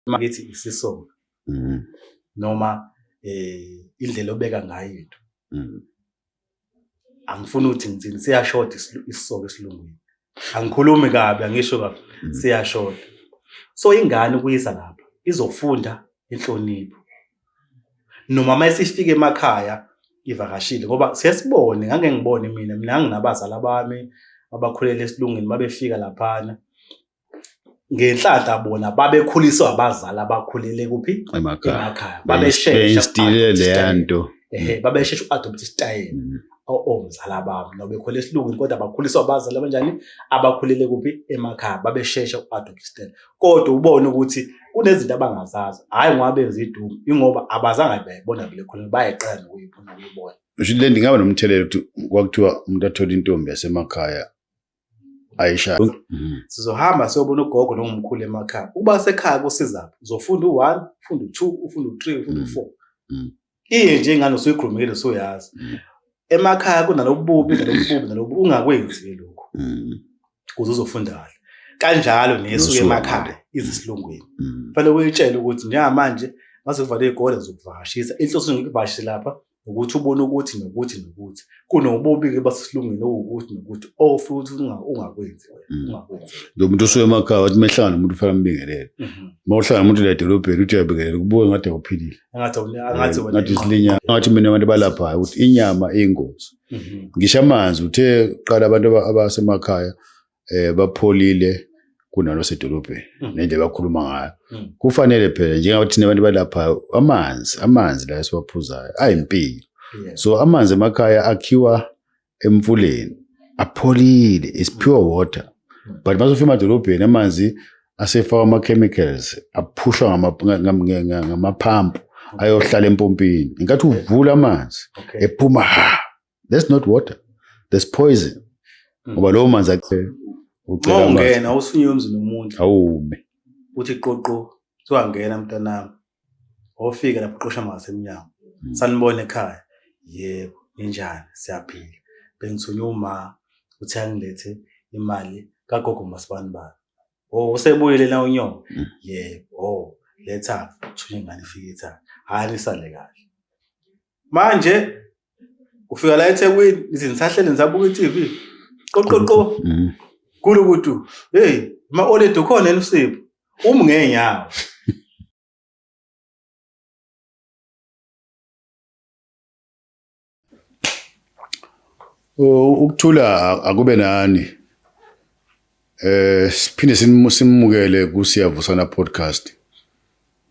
makithi isisonga mm. noma eh indlela obeka ngayo into mm. angifuni ukuthi ngithini siyashoda isisoko esilungwini angikhulumi kabi angisho kabi mm. siyashoda so ingane ukuyisa lapha izofunda inhlonipho noma uma esifika emakhaya ivakashile ngoba sesibone ngake ngibone mina mina nginabazala bami abakhulele esilungwini babefika laphana ngenhlanhla bona babekhuliswa abazali abakhulele kuphi emakhaya babesheshastile leya nto babeshesha u-adopta isitayela mm. omzala babo nobekhole esilungwini kodwa bakhuliswa abazali abanjani abakhulele kuphi emakhaya babeshesha u-adopta isitayela kodwa ubone ukuthi kunezinto abangazazi hhayi ngoba benza idumo ingoba abazange bayibona vele khona bayeqala nokuyibona ukuyibona ngisho le ndingaba nomthelela ukuthi kwakuthiwa umuntu athole intombi yasemakhaya ayishaya mhm. sizohamba siyobona ugogo nongumkhulu emakhaya ukuba sekhaya kusizaphi uzofunda u-one ufunda u-two ufunda u-three ufunda u-four mhm. mhm. iye nje ingane usuyikhulumile usuyazi mm. emakhaya kunalobububi nalobububi nalobu ungakwenzi lokho mm. kuze uzofunda kahle kanjalo nesuke emakhaya izisilungwini mm. fanele uyitshele ukuthi njengamanje mase kuvalwe igole zokuvakashisa inhloso ngikuvakashe lapha ukuthi ubone ukuthi nokuthi nokuthi kunobubi-ke basesilungwini okuwukuthi nokuthi ofuthi ungakwenzi ungakwenzi lo muntu osuke emakhaya wathi mehlangana umuntu fanele ambingelele uma uhlangana umuntu la edolobheni uthi uyabingelela kubuke ngathi awuphilile ngathi isinyama ngathi mina abantu balaphayo ukuthi inyama iyingozi mhm. ngisho amanzi uthe qala abantu abasemakhaya eh bapholile kunalo sedolobheni mhm. nendlela bakhuluma ngayo mhm. kufanele phela njengoba thina abantu balapha amanzi amanzi la esiwaphuzayo ayimpilo so amanzi emakhaya akhiwa emfuleni apholile is pure water but masofika emadolobheni amanzi asefakwa ama-chemicals aphushwa ngama- ngam- nge- nge- ngamaphampu ayohlala empompini ngenkathi uvula amanzi Okay. ephuma ha that's not water that's poison Mm. ngoba lowo manzi ace- ucela Uma amanzi ungena usunywe emzini womuntu awume uthi qoqo sowangena mntanami wofika lapho uqosha amazwi emnyango hmm. sanibona ekhaya yebo ninjani siyaphila bengithunywa uma uthi angilethe imali kagogo masibani bani o oh, usebuyele na unyoko hmm. yebo o oh, letha thunywa ingane ifike ithatha hhayi lisale kahle manje ufika la eThekwini ithi ngisahlele ngisabuka iTV qoqoqo mm. kulo kuthi hey ma oledi ukhona elusipho um ngenyawo ukuthula akube nani eh siphinde simukele kusiyavusana podcast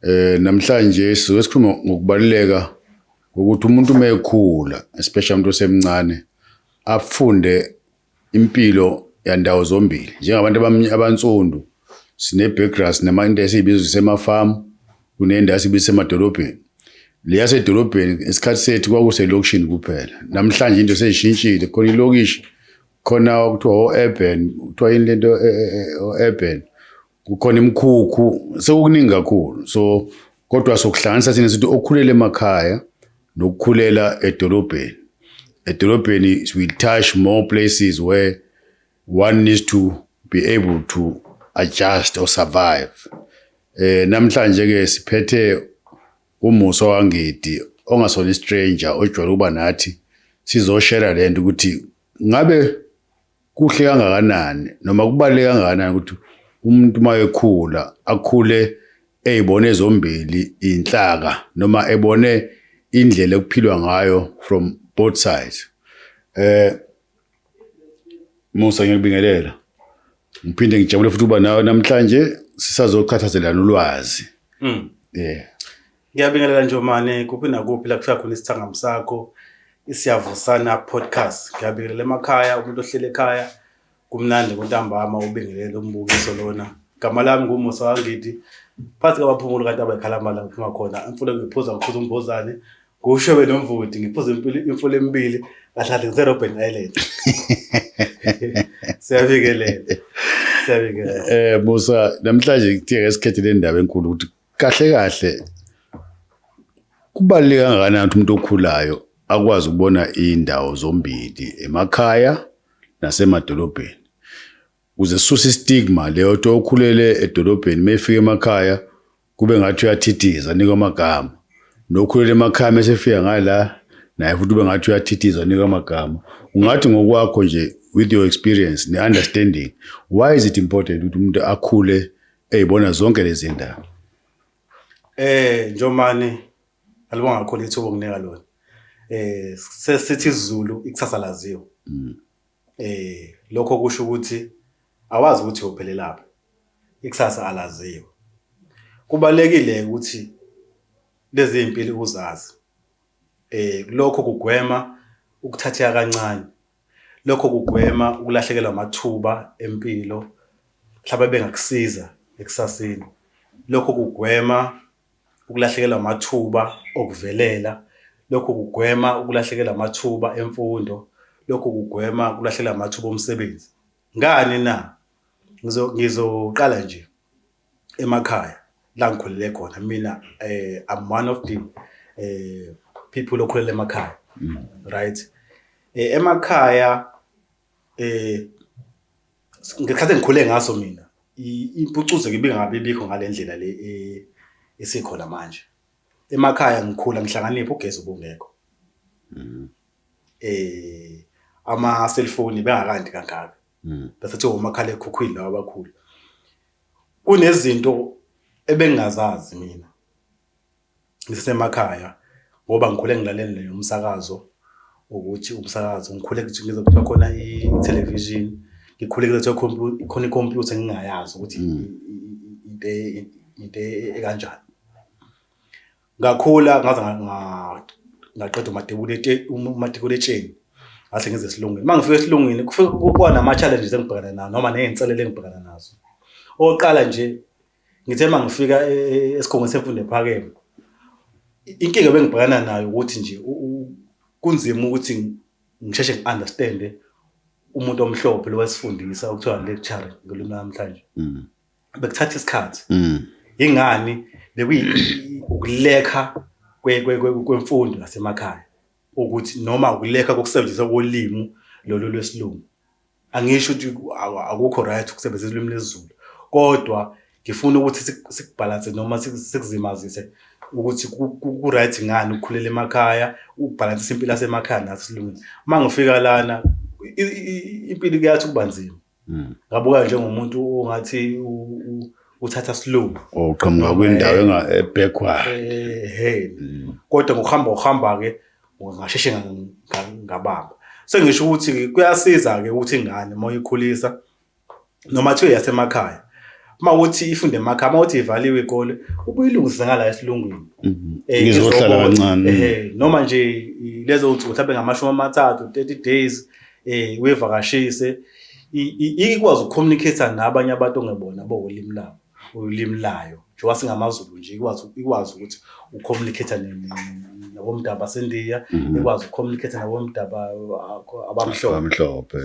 Eh namhlanje sizobe sikhuluma ngokubaluleka kokuthi umuntu uma ekhula especially umuntu osemncane afunde impilo yandawo zombili njengabantu abansundu sine-background sinama-into esiyibiza sisemafamu kunento esibiza semadolobheni le yasedolobheni isikhathi sethu kwakuselokishini kuphela namhlanje into seyishintshile khona ilokishi khona kuthiwa o-urban kuthiwa yini lento e-, e-, e-, o-urban kukhona imikhukhu sekukuningi kakhulu so kodwa sokuhlanganisa thina sithi okukhulela emakhaya nokukhulela edolobheni edolobheni we touch more places where one needs to be able to adjust or survive eh namhlanje ke siphethe umuso wangidi ongasona istranger ojwayele ukuba nathi sizoshare lento ukuthi ngabe Kuhle kangakanani noma kubaluleke kangakanani ukuthi umuntu uma ekhula akhule eyibone zombili inhlaka noma ebone indlela ekuphilwa ngayo from both sides eh Musa ngiyakubingelela ngiphinde ngijabule futhi uba nawe namhlanje sisazoqhathazelana ulwazi mm. yeah Ngiyabingelela Njomane kuphi nakuphi la kuhlala khona isithangami sakho isiyavusana podcast. Ngiyabingelela emakhaya umuntu ohlele ekhaya kumnandi kuntambama ubingelele umbukiso lona. Igama lami nguMusa Wangidi phansi kwabaphumuli kanti abayikhalambala ngiphuma khona imfulo ngiphuza ngiphuza umbozane ngusho benomvudi ngiphuza impilo imfulo emibili kahlahle ngise Robben Island. Siyabingelela. Siyabingelela. Eh Musa namhlanje kuthiye ngesikhethe le ndaba enkulu ukuthi Kahle kahle kubaluleke kangakanani ukuthi umuntu okhulayo akwazi ukubona iy'ndawo zombili emakhaya nasemadolobheni ukuze sisuse istigma leyo ukuthi okhulele edolobheni uma efika emakhaya kube ngathi uyathithiza anikwa amagama nokhulele emakhaya uma esefika ngala naye futhi ube ngathi uyathithiza anikwa amagama ungathi ngokwakho nje with your experience ne-understanding why is it important ukuthi umuntu akhule eyibona zonke lezi ndaba eh njomane alibonga kakhulu ithuba okunika lona eh sesithi izulu ikusasa laziwa mm. eh lokho kusho ukuthi awazi ukuthi uphelelaphi ikusasa alaziwa kubalekile ukuthi lezi impilo uzazi eh lokho kugwema ukuthatheka kancane Lokho kugwema ukulahlekelwa amathuba empilo mhlawumbe bengakusiza ekusaseni. Lokho kugwema ukulahlekelwa amathuba okuvelela. Lokho kugwema ukulahlekelwa amathuba emfundo. Lokho kugwema ukulahlekelwa amathuba omsebenzi. Ngani na? Ngizoqala nje. emakhaya la ngikhulele khona mina eh I'm one of the eh people okhulele emakhaya mm. right eh emakhaya eh ngekhathi engikhule ngaso mina impucuzo ngibe ngabe bikho ngalendlela le eh, esikhona manje emakhaya ngikhula ngihlakanipha ugesi ubungekho mm. eh ama cellphone bengakandi kangaka mm. bese kuthiwa omakhalekhukhwini lawa abakhulu kunezinto ebengingazazi mina ngisemakhaya ngoba ngikhule ngilalele leyo umsakazo ukuthi umsakazo ngikhule ngize kuthiwa khona i-television ngikhule ngize kuthiwa khona i-computer ngingayazi ukuthi mm. into e, e, e, ekanjani ngakhula ngaze ngaqeda umatikuletsheni ngase ngize esilungwini uma ngifika esilungwini kuba nama-challenges engibhekana nawo noma ney'nselelo engibhekana nazo okokuqala nje ngithe uma ngifika e, e, e, esikhungweni semfundo ephakeme inkinga bengibhekana nayo ukuthi nje kunzima ukuthi ngisheshe ngi-understande umuntu omhlophe lowesifundisa okuthiwa lecture ngolimi namhlanje mm. bekuthatha isikhathi mm. ingani bekuyikulekha kwemfundo yasemakhaya ukuthi noma ukulekha kokusebenzisa kolimi lolu lwesilungu angisho ukuthi akukho right ukusebenzisa ulimi lwesiZulu kodwa ngifuna ukuthi sikubhalanse noma sikuzimazise ukuthi ku-right ngani ukukhulela emakhaya ukubhalansisa impilo yasemakhaya nasilungile uma ngifika lana impilo kuyathi ukuba nzima Mm. Ngabuka njengomuntu ongathi uthatha slow. Uqhamuka oh, kwindawo eh, enga ebackward. Eh, hey. Mm. Kodwa ngokuhamba uhamba ke ngasheshe ngabamba. Sengisho ukuthi kuyasiza ke ukuthi ingane uma uyikhulisa noma thiwe yasemakhaya uma uthi ifunde emakha uma uthi ivaliwe ikole ubuyilungisa ngala esilungwini mhm. eh, ngizohlala kancane eh, noma nje lezo nsuku mhlawumbe ngamashumi amathathu 30 days eh uyevakashise ikwazi ukucommunicate nabanye abantu ongebona bowolimi labo ulimi layo njengoba singamaZulu nje ikwazi ikwazi ukuthi ucommunicate nabomdabu baseNdiya mhm. ikwazi ukucommunicate nabomdabu abamhlophe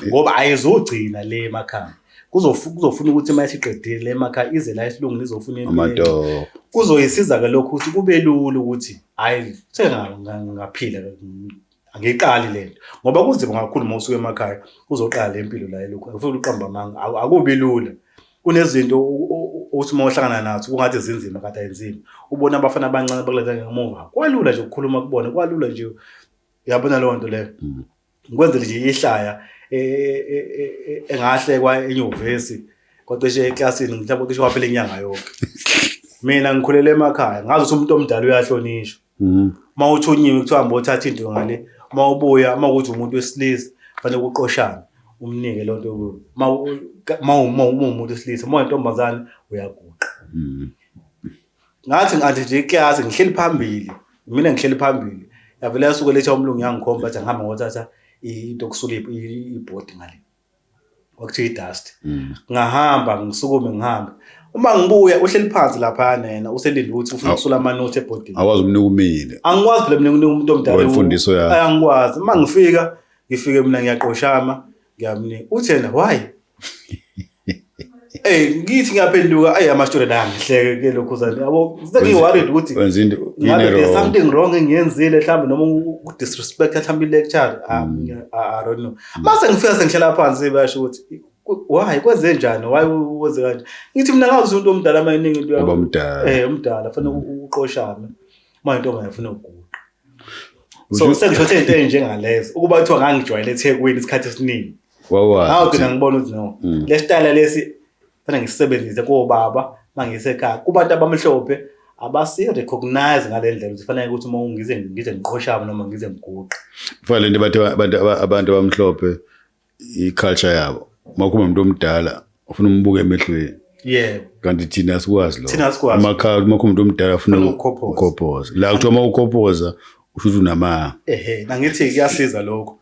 ngoba ayizogcina le emakhaya kuzofuna ukuthi uma isiqedile le emakhaya ize la isilungu lizofuna impilo kuzoyisiza ke lokho ukuthi kube lula ukuthi hayi sengaphila angiqali le nto ngoba kunzima kakhulu uma usuke emakhaya uzoqala le mpilo la elokhu akufuthi uqamba amanga akubi lula kunezinto uthi uma uhlangana nazo kungathi zinzima kade ayinzima ubona abafana abancane bakuleta ngemuva kwalula nje ukukhuluma kubona kwalula nje uyabona leyo nto leyo mm. ngikwenzele nje ihlaya e, e, e, engahlekwa enyuvesi kwacishe eklasini mhlawumbe cishe waphela inyanga yonke mina ngikhulele emakhaya ngazi ukuthi umuntu omdala uyahlonishwa mm. uma uthunyiwe kuthiwa hamba othatha into ngale uma ubuya uma ukuthi umuntu wesilisa fanele kuqoshane umnike loo nto uma umuntu wesilisa uma wentombazane uyaguqa mm. ngathi ngathi nje iklasi ngihleli phambili mina ngihleli phambili yavele yasuke letha umlungu yangikhomba athi angihamba ngothatha into yokusula ibhodi ngale kwakuthiwa idust mm. ngahamba ngisukume ngihambe uma ngibuya uhleli phansi lapha nena uselinde ukuthi ufuna ukusula amanothi ebhodini awazi umnika umile angikwazi phela mina nginika umuntu omdala imfundiso yakhe angikwazi uma ngifika ngifike mina ngiyaqoshama ngiyamnika uthi yena why Hey ngithi ngiyaphenduka ay ama student angihleke ke lokho zani yabo sengi worried ukuthi wenza into there's something wrong engiyenzile mhlawumbe noma u disrespect mhlawumbe i lecture ah, mm. i don't know mase ngifika sengihlala phansi basho ukuthi why kwenze njani why uze kanje ngithi mina ngazi umuntu omdala mayiningi into yabo omdala eh omdala fanele mm. uqoshame manje ntombi ayafuna ukuguqa so sengisho into enjengalezo ukuba kuthiwa ngangijwayele eThekwini isikhathi esiningi How can ngibona ukuthi no. Mm. Le style lesi fanele ngisebenzise kobaba mangisekhaya. Kubantu abamhlophe abasi recognize ngalendlela ukuthi fanele ukuthi uma ngize ngize ngiqoshaba noma ngize ngiguqe. Kufanele into abantu abantu abantu abamhlophe i culture yabo. Makuba umuntu omdala ufuna umbuke emehlweni. Yebo. Kanti thina asikwazi lo. Thina asikwazi. Amakhaya uma kuba umuntu omdala ufuna ukukophoza. La kuthiwa uma ukophoza usho ukuthi unamanga. Ehhe, ngithi kuyasiza lokho.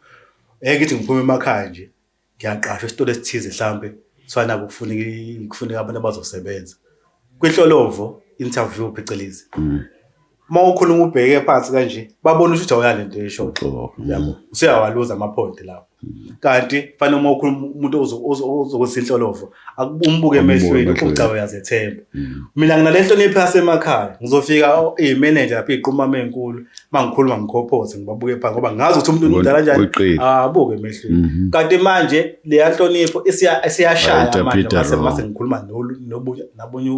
Ngeke ngithi ngiphuma emakhaya nje ngiyaqashwa esitolo esithize hlampe kuthiwa naku kufuneka i- kufuneka abantu abazosebenza kwinhlolovo interview phecelezi uma ukhuluma ubheke phansi kanje babona ukuthi awuya lento esho Uxolo. yabo useyawaluza amaphoyinti lapho kanti fanele uma ukhuluma umuntu ozo- ozo- ozokwenza inhlolovo umbuke emehlweni ucawe uyazethemba mm. mina nginale nhlonipho yasemakhaya ngizofika iyimeneja lapho iqumama enkulu uma ngikhuluma ngikhophoze ngibabuke phansi ngoba ngazi ukuthi umuntu umdala njani abuke emehlweni mm-hmm. kanti manje leya nhlonipho isiyashaya manje mase ngikhuluma nabunye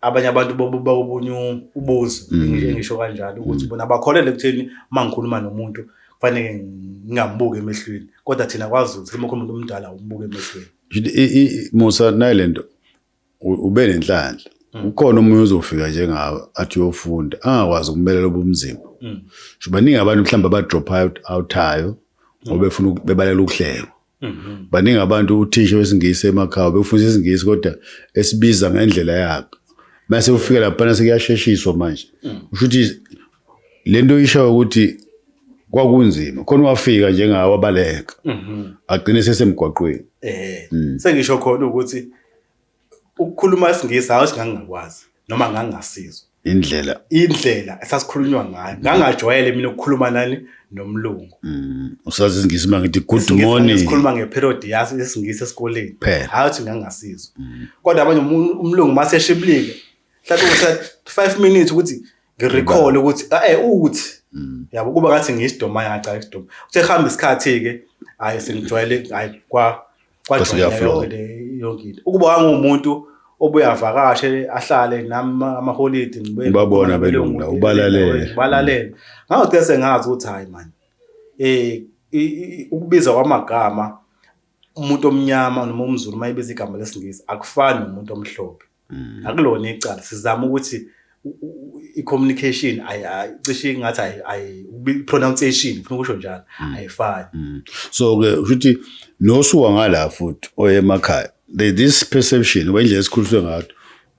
abanye abantu bakobunye ubuzi mm. engisho kanjalo ukuthi mm. bona bakholele ekutheni uma ngikhuluma nomuntu kufanele ngingambuki emehlweni kodwa thina kwazi ukuthi uma ukhuluma omdala umbuke emehlweni musa nayi le nto ube nenhlanhla mm. ukhona omunye ozofika njengawe athi uyofunda angakwazi ukumelela ubumzimba sho baningi abantu mhlawumbe abadrop out outhayo ngoba befuna bebalela ukuhlekwa Mhm. baningi abantu uthisha wesingisi emakhaya bekufundisa isingisi kodwa esibiza ngendlela yakhe mase ufika laphana sekuyasheshiswa manje mm. usho ukuthi le nto ishayo ukuthi kwakunzima khona wafika njengawo abaleka mhm. agcine sesemgwaqweni eh, mm. sengisho khona ukuthi ukukhuluma isingisi hawu singangakwazi noma ngangasizwa indlela indlela esasikhulunywa ngayo ngangajwayele mina ukukhuluma nani nomlungu mm, usazi isingisi uma ngithi good morning sikhuluma ngeperiod yaso isingisi esikoleni hayi ukuthi ngangasizwa mm. kodwa abanye umlungu mase eshiblike mhlawumbe kusa 5 minutes ukuthi ngirecall ukuthi eh uthi mm. yabo kuba ngathi ngiyisidoma yacala isidoma uthe hamba isikhathi ke hayi sengijwayele hayi kwa yonke ukuba wangumuntu obuye avakashe ahlale nami amaholidi ngibabona belunga ubalalele balalele ngawuthi sengazi ukuthi hayi manje eh ukubiza kwamagama umuntu omnyama noma umzulu mayibiza igama lesingisi akufani nomuntu omhlophe mm. akulona icala sizama ukuthi i-communication cishe ingathi i-pronunciation ngifuna ukusho njalo mm. ayifani mm. so-ke ukuthi nosuka ngala futhi oyemakhaya there's this perception ngoba indlela esikhuliswe ngayo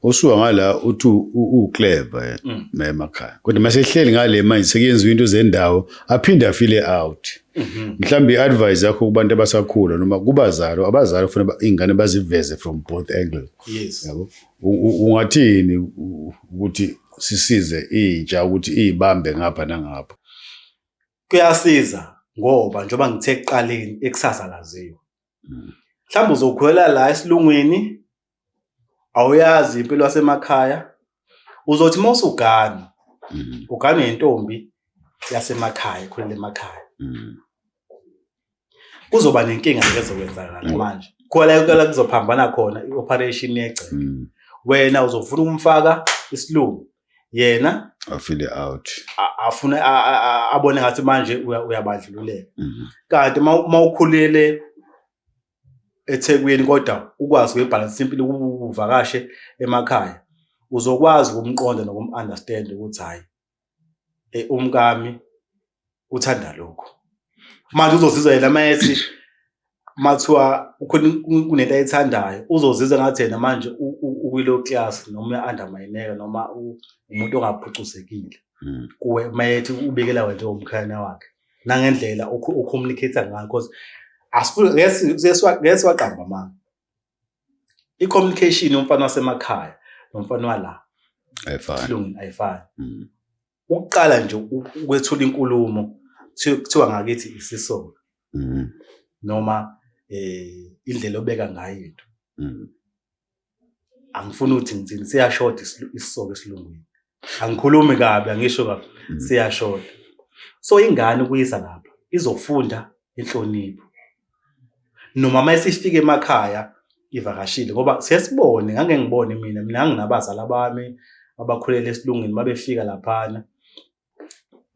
osuka ngala uthi uclever eh, mm. emakhaya kodwa mase ehleli ngale manje sekuyenziwa into zendawo aphinde afile out mm-hmm. mhlawumbe i-advice yakho kubantu abasakhula noma kubazalo abazali kufanele ingane baziveze from both angles yes yabo ungathini ukuthi sisize intsha ukuthi izibambe ngapha nangapha kuyasiza ngoba njengoba ngithe ekuqaleni ikusasa laziwa hmm. mhlawumbe uzokhwela la esilungwini awuyazi impilo yasemakhaya uzothi uma usugana hmm. ugane yentombi yasemakhaya ikhulela emakhaya hmm. kuzoba nenkinga ezokwenzakala mm. manje khona kuyala kuzophambana khona i-operation yegceke mm. wena uzofuna ukumfaka isilungu yena afile out afune abone ngathi manje uyabandlululeka mm-hmm. kanti uma ukhulele eThekwini kodwa ukwazi ukuyibhalansa impilo ukuvakashe emakhaya uzokwazi ukumqonda nokumunderstand ukuthi hhayi eh, umkami uthanda lokho manje uzozizwa yena mayethi mathiwa ukhona kunento ayithandayo uzozizwa ngathi yena manje ukwilo class noma undermineka noma umuntu ongaphucuzekile hmm. kuwe mayethi ubikela wena njengomkhayana wakhe nangendlela ucommunicate ngayo because asifuni ngeke siwaqamba manga i-communication yomfana wasemakhaya nomfana wala ayifani ayifani mm. ukuqala nje ukwethula inkulumo kuthiwa ngakithi isisoka mm. noma eh indlela obeka ngayo into mm. angifuni ukuthi ngithini siyashoda isisoka esilungwini angikhulumi kabi angisho kabi mm. siyashola so ingane kuyisa lapha izofunda inhlonipho noma uma isifika emakhaya ivakashile ngoba siyasibone ngake ngibone mina mina nginabazali abami abakhulele esilungwini babefika laphana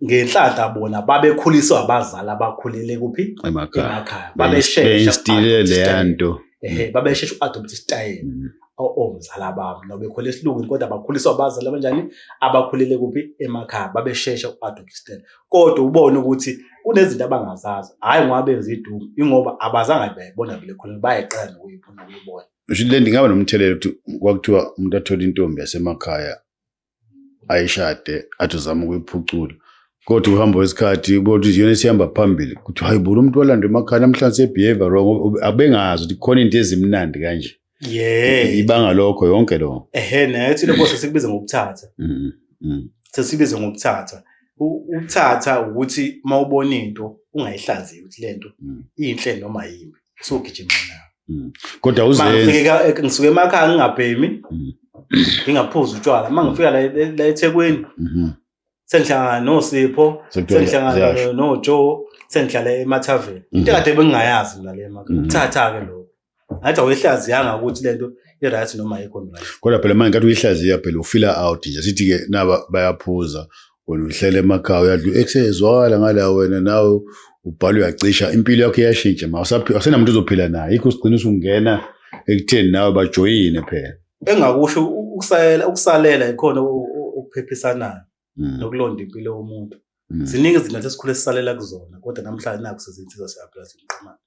ngenhlanhla bona babekhuliswa abazali abakhulele kuphi emakhaya babesheshistile leya nto ehe mm. babeshesha uadopta isitayela mm. omzala babo nobekhole esilungwini kodwa bakhuliswa abazali abanjani abakhulele kuphi emakhaya babeshesha uadopta isitayela kodwa ubone ukuthi kunezinto abangazazi hhayi ngoba benza idumu ingoba abazange bayibona vele khona bayeqala nokuyibona ukuyibona le ndingaba nomthelela ukuthi kwakuthiwa umuntu athole intombi yasemakhaya ayishade athi uzama ukuyiphucula kodwa uhamba wesikhathi kodwa iyona esihamba phambili kuthi hayi bona umuntu walanda emakhaya namhlanje sebehave wrong abengazi ukuthi khona into ezimnandi kanje yeah ibanga lokho yonke lo ehe nayo thina boss sikubiza ngokuthatha mm, mm. sesibiza ngokuthatha ukuthatha ukuthi mawubona into ungayihlaziyi ukuthi lento mm. inhle noma yimbi sogijima nawo mm. kodwa uzengifike ngisuke emakhaya ngingabhemi mm. ngingaphuzi utshwala uma ngifika la la eThekwini mm-hmm. sengihlangana noSipho sengihlangana noJoe sengihlala emathaveni mm-hmm. into kade bengingayazi mina le emakhaya mm-hmm. thatha ke lokho ngathi awehlaziyanga ukuthi lento i-right noma ayikho right kodwa phela manje kathi uyihlaziya phela ufila out nje sithi-ke naba bayaphuza wena uhlele emakhaya uyadlu ekusezwakala ngala wena nawe ubhala uyacisha impilo yakho iyashintsha ma asenamuntu uzophila naye ikho sigcina usungena ekutheni nawe bajoyine phela engakusho ukusalela ukusalela ikhona ukuphephisanayo hmm. nokulonda impilo yomuntu hmm. ziningi izinto esikhule sisalela kuzona kodwa namhlanje naku sezinsiza siyaphila siqhumana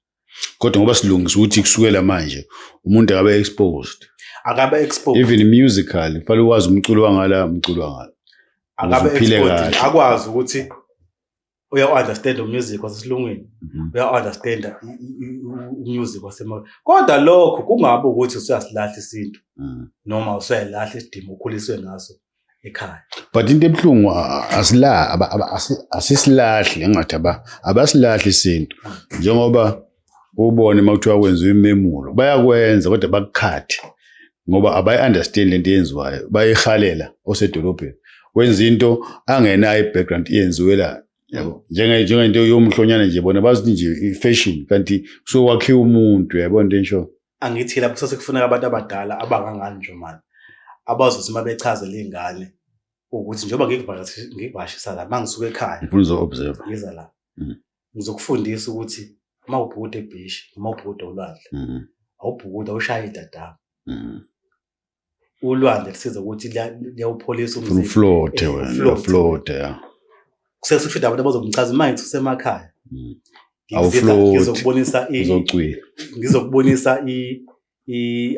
kodwa ngoba silungisa ukuthi kusukela manje umuntu akabe exposed akabe exposed even musical fanele uwazi umculo wangala umculo wangala akabe exposed akwazi ukuthi uya-understand umusic wasesilungwini mhm. uya-understand umusic wasema kodwa lokho kungabe ukuthi usuyasilahla isintu mhm. noma usuyayilahla isidima ukhuliswe ngaso ekhaya but into ebuhlungu asila asisilahli ngathi aba abasilahli isintu njengoba ubone uma kuthiwa kwenziwa imemulo bayakwenza kodwa bakukhathi ngoba abayi-understand lento eyenziwayo bayihalela osedolobheni wenza into angenayo i-background iyenziwe la yabo njengento yomhlonyana nje bona bazithi nje i-fashion kanti kusuke wakhiwa umuntu yabo into ensho angithi lapho kusase kufuneka abantu abadala abangangani nje manje abazothi uma bechazela iy'ngane ukuthi njengoba ngikuvakashisa la mangisuke ekhaya ngifuna uzo-observe ngiza la mm. ngizokufundisa ukuthi uma ubhukuda ebhishi noma ubhukuda olwandle mm-hmm. awubhukuda ushaya idadama mm-hmm. ulwandle lusiza ukuthi liyawupholisa umzimba uflote wena uflote ya sesifida abantu abazomchaza manje kusemakhaya mm. ngizokubonisa ngizokubonisa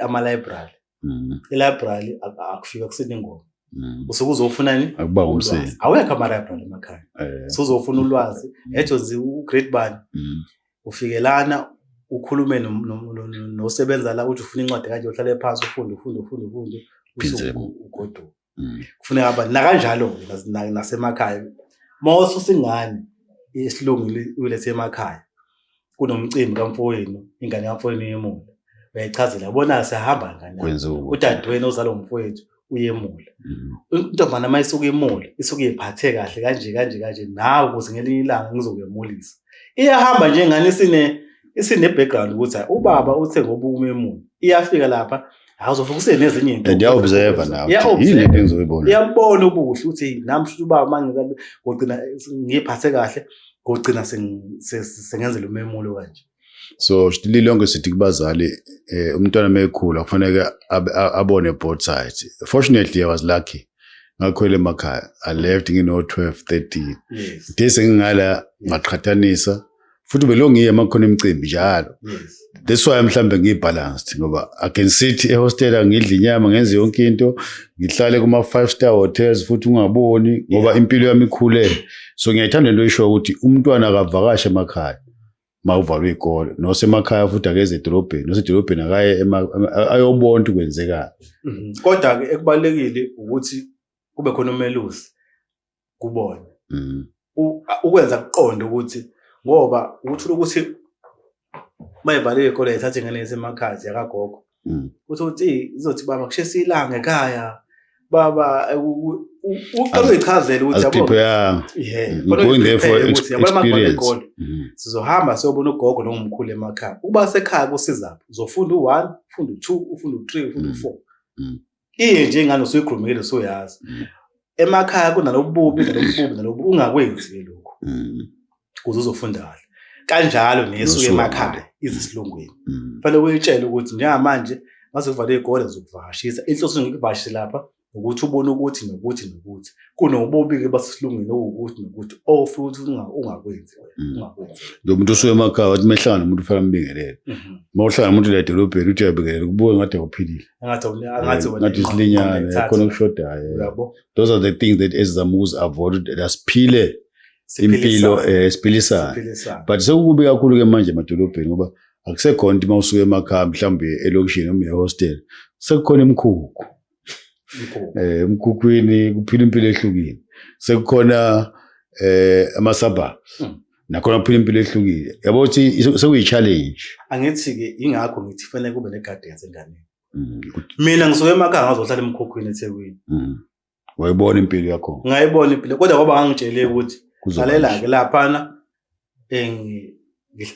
ama-library mm. i-library akufika kusini ingoma mm. usuke uzofunani akuba umsebenzi awekho ama-library emakhaya eh. so uzofuna ulwazi ejozi ugrade bani ufike lana ukhulume nosebenza la uthi ufuna incwadi kanje uhlale phansi ufunde ufunde ufunde ufunde ugoduka mm. kufuneka aba nakanjalo nasemakhaya uma ususa ingane isilungu ulethe emakhaya kunomcimbi kamfowenu ingane kamfowenu yemuntu uyayichazela bona sihamba ngani udadewenu ozalwa ngumfowethu uyemule intombana uma isuke imule isuke iphathe kahle kanje kanje kanje nawe ukuze ngelinye ilanga ngizokuyemulisa iyahamba nje ngani isine isine background ukuthi ubaba uthe ngoba umemule iyafika lapha awuzovuka usenezinye into and yaobserver nawe yini into engizoyibona iyabona ubuhle ukuthi nami futhi ubaba mangika ngogcina ngiphathe kahle ngogcina sengenzela umemulo kanje so lilonke sithi kubazali eh, umntwana mekhula kufanele abone both sides fortunately i was lucky ngakhwela emakhaya i left ngino 12 13 yes. de sengingala ngaqhathanisa futhi belongiye makhona imicimbi njalo yes. that's why mhlambe ngiyibalanced ngoba i can sit ehostela ngidla inyama ngenze yonke into ngihlale kuma five star hotels futhi ungaboni ngoba yeah. impilo yami ikhule so ngiyayithanda into oyishoyo ukuthi umntwana akavakashe emakhaya uma uvalwe iy'kole nosemakhaya futhi akeze edolobheni nosedolobheni akaye ayobona ukuthi kwenzekani mhm. kodwa-ke ekubalulekile ukuthi kube khona umelusi kubona mhm. ukwenza kuqonde ukuthi ngoba ukuthi ukuthi uma evalile iy'kole yithathe ingane yesemakhaya ziyakagogo Mm. Uthi uthi izothi baba kushesa ilanga ekhaya. Baba uqala uyichazela ukuthi yabo. Prepare. Yeah. Mm, going there for experience. Mm. Sizohamba siyobona ugogo nongumkhulu emakhaya. Uba sekhaya kusizaphi? Uzofunda u1, ufunda u2, ufunda u3, ufunda u4. iye nje ingane usuyikhulumile usuyazi mm. emakhaya kunalobububi nalobububi nalobu ungakwenzi ke lokho mm. kuze uzofunda kahle kanjalo nesuke emakhaya izisilungwini mm. fanele uyitshele ukuthi njengamanje mase kuvalwe igole zokuvakashisa inhloso ngikuvakashe lapha ukuthi ubone ukuthi nokuthi nokuthi kunobubi-ke basesilungwini owukuthi nokuthi ofuthi ungakwenzi ungakwenzi lo muntu usuke emakhaya wathi mehlangana umuntu fanele ambingelele uma mhm. uhlangana umuntu la edolobheni uthi uyabingelela kubuke ngathi awuphilile angathi angathi wena ngathi isilinyane khona ukushodayo yabo those are the things that ezizama ukuzi avoid asiphile impilo eh, esiphilisana but sekukubi kakhulu ke manje emadolobheni ngoba akusekhona ukuthi uma usuke emakhaya mhlawumbe elokishini noma ehostel sekukhona imikhukhu eh emkhukhwini kuphila impilo ehlukile sekukhona eh ama suburbs hmm. nakhona uphila impilo ehlukile yabo ukuthi sekuyi-challenge angithi-ke ingakho ngithi fanele kube ne-guidance enganeni mm, mina ngisuke emakhaya ngazohlala emkhokhweni ethekwini mm. wayibona impilo yakho ngayibona impilo kodwa kwaba ngangitshele ukuthi lalela-ke laphana um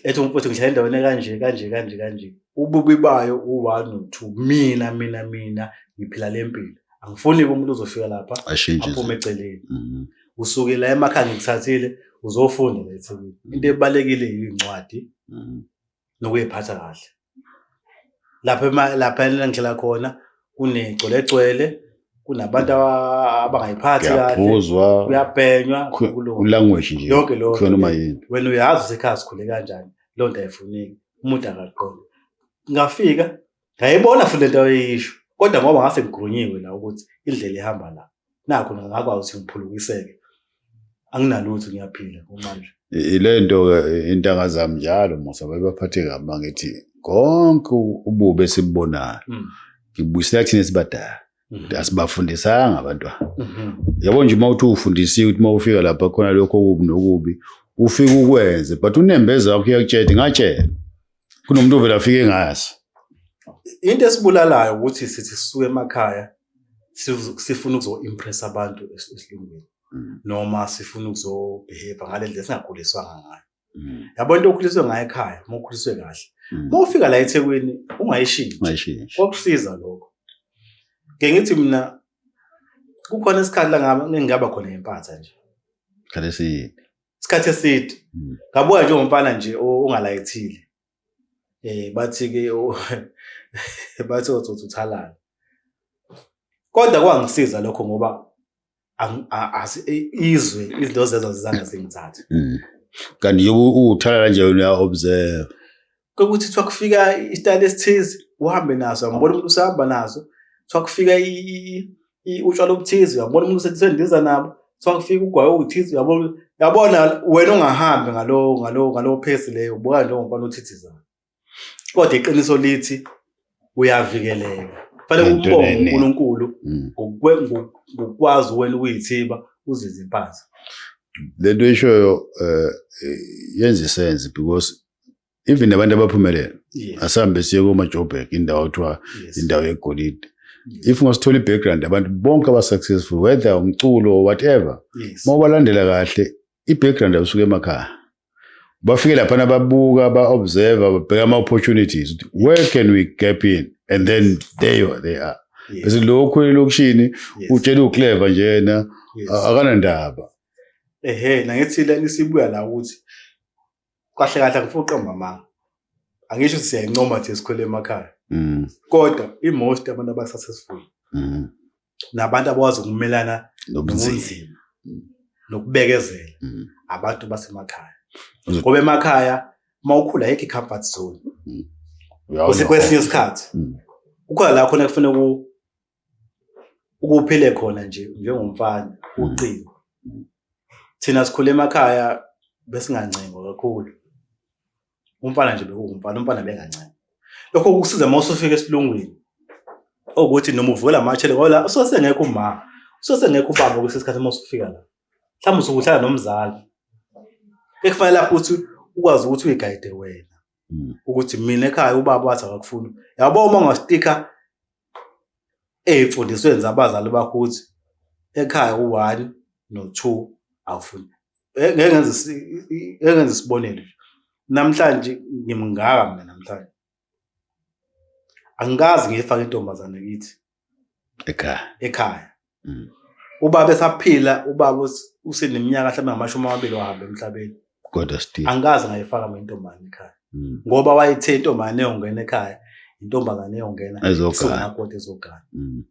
ethi umfowethu ngihlala endaweni kanje kanje kanje kanje ububi bayo u-one no-two mina mina mina ngiphila le mpilo angifuni-ke umuntu uzofika lapha aphume eceleni mm. usuke la emakhaya ngikuthathile uzofunda la eThekwini mm. into ebalekile yincwadi mm. nokuyiphatha kahle lapha lapha engihlala khona kunegcwelegcwele kunabantu abangayiphathi kahle kuyabhenywa ulanguage nje yonke lo khona uma yini wena uyazi usekhaya sikhule kanjani lonto ayifuneki umuntu akaqondi ngafika ngayibona futhi lento ayeyisho kodwa ngoba ngase ngigrunyiwe la ukuthi indlela ihamba la nakho ngakwazi ukuthi ngiphulukiseke anginalutho ngiyaphila kumanje ilento ke intanga zami njalo musa babaphathe kabi mangithi konke ububi esibubonayo mm. ngibuyisela kuthina esibadala Mhm. asibafundisanga abantwana mhm. yabo nje uma uthi ufundisiwe ukuthi uma ufika lapha khona lokho okubi nokubi ufike ukwenze but unembeza wakho uyakutshela ngatshela kunomuntu ovela afike ngayazi into esibulalayo ukuthi sithi sisuke emakhaya sifuna ukuzo-impressa abantu esilungwini mm. noma sifuna ukuzobhehebha ngale ndlela singakhuliswanga ngayo mm. yabo into okhuliswe ngayo ekhaya uma ukhuliswe kahle mm. uma ufika la ethekwini ungayishintshi kwakusiza lokho ke ngithi mina kukhona isikhathi la ngingaba khona ngempatha nje khalesiyini isikhathi eside hmm. ngabuka nje umfana nje ongalayithile eh bathi ke bathi uzothi uthalala kodwa kwangisiza lokho ngoba izwe izinto zezo zizange zingithathe hmm. kanti nje uthalala nje uya observe Kwekuthi kuthiwa kufika isitayela esithize uhambe naso, uyambona umuntu usahamba naso. Kuthiwa kufika utshwala obuthize, uyambona umuntu usendiza nabo. Kuthiwa kufika ugwayi owuthize, uyabona yabona wena ungahambi ngalowo ngalowo ngalowo phesi leyo ubuka nje ongumfana othithizayo. Kodwa iqiniso lithi uyavikeleka fanele Into ukubonga eningi. uNkulunkulu Mm. ngokwe- ngo- ngokwazi wena ukuyithiba uzize impahla lento ishoyo eh yenza isense because even abantu abaphumelele yes asambe siye kuma Joburg indawo kuthiwa yes indawo yegolide yes, if ungasithola i-background abantu bonke aba-successful whether umculo or whatever yes. uma ubalandela kahle i-background abasuke emakhaya bafike laphana babuka ba-observe babheka ama-opportunities ukuthi where can we gap in and then there you are, they are bese lokhu elokishini utshela uclever nje yena akanandaba ehe nangithi lani sibuya la ukuthi kahle kahle ngifuna uqamba amanga angisho ukuthi siyayincoma nje sikhwele emakhaya mm. kodwa i-most abantu aba-successful mm. nabantu abakwazi ukumelana nobunzima mm. nokubekezela mm. abantu basemakhaya ngoba emakhaya uma ukhula yekho i-comfort zone mm. usekwesinye isikhathi ukhona la khona kufanele ukuphile khona nje njengomfana ucingo thina sikhule emakhaya besingancengo kakhulu umfana nje bekuwumfana umfana bengancane lokho kukusiza uma usufika esilungwini okuthi noma uvukela amashele ngoba usosengekho uma usosengekho ubaba kwesinye isikhathi uma usufika la mhlawumbe usukuhlala nomzali ekufanele lapho ukuthi ukwazi ukuthi uyigayide wena hmm. ukuthi mina ekhaya ubaba wathi akakufuni yabo uma ungastika ey'mfundisweni zabazali bakho ukuthi ekhaya u-one no-two awufuni eh, ngeke ngenze isibonelo namhlanje ngimngaka mina namhlanje angikazi ngiyifake intombazane kithi ekhaya ekhaya mm. ubaba esaphila ubaba useneminyaka mhlawumbe ngamashumi amabili wahambe emhlabeni kodwa still angikaze ngayifaka mina intombane ekhaya mm. ngoba wayethe intombane eyongena ekhaya intombazane eyongena izogakoda ezogana mm.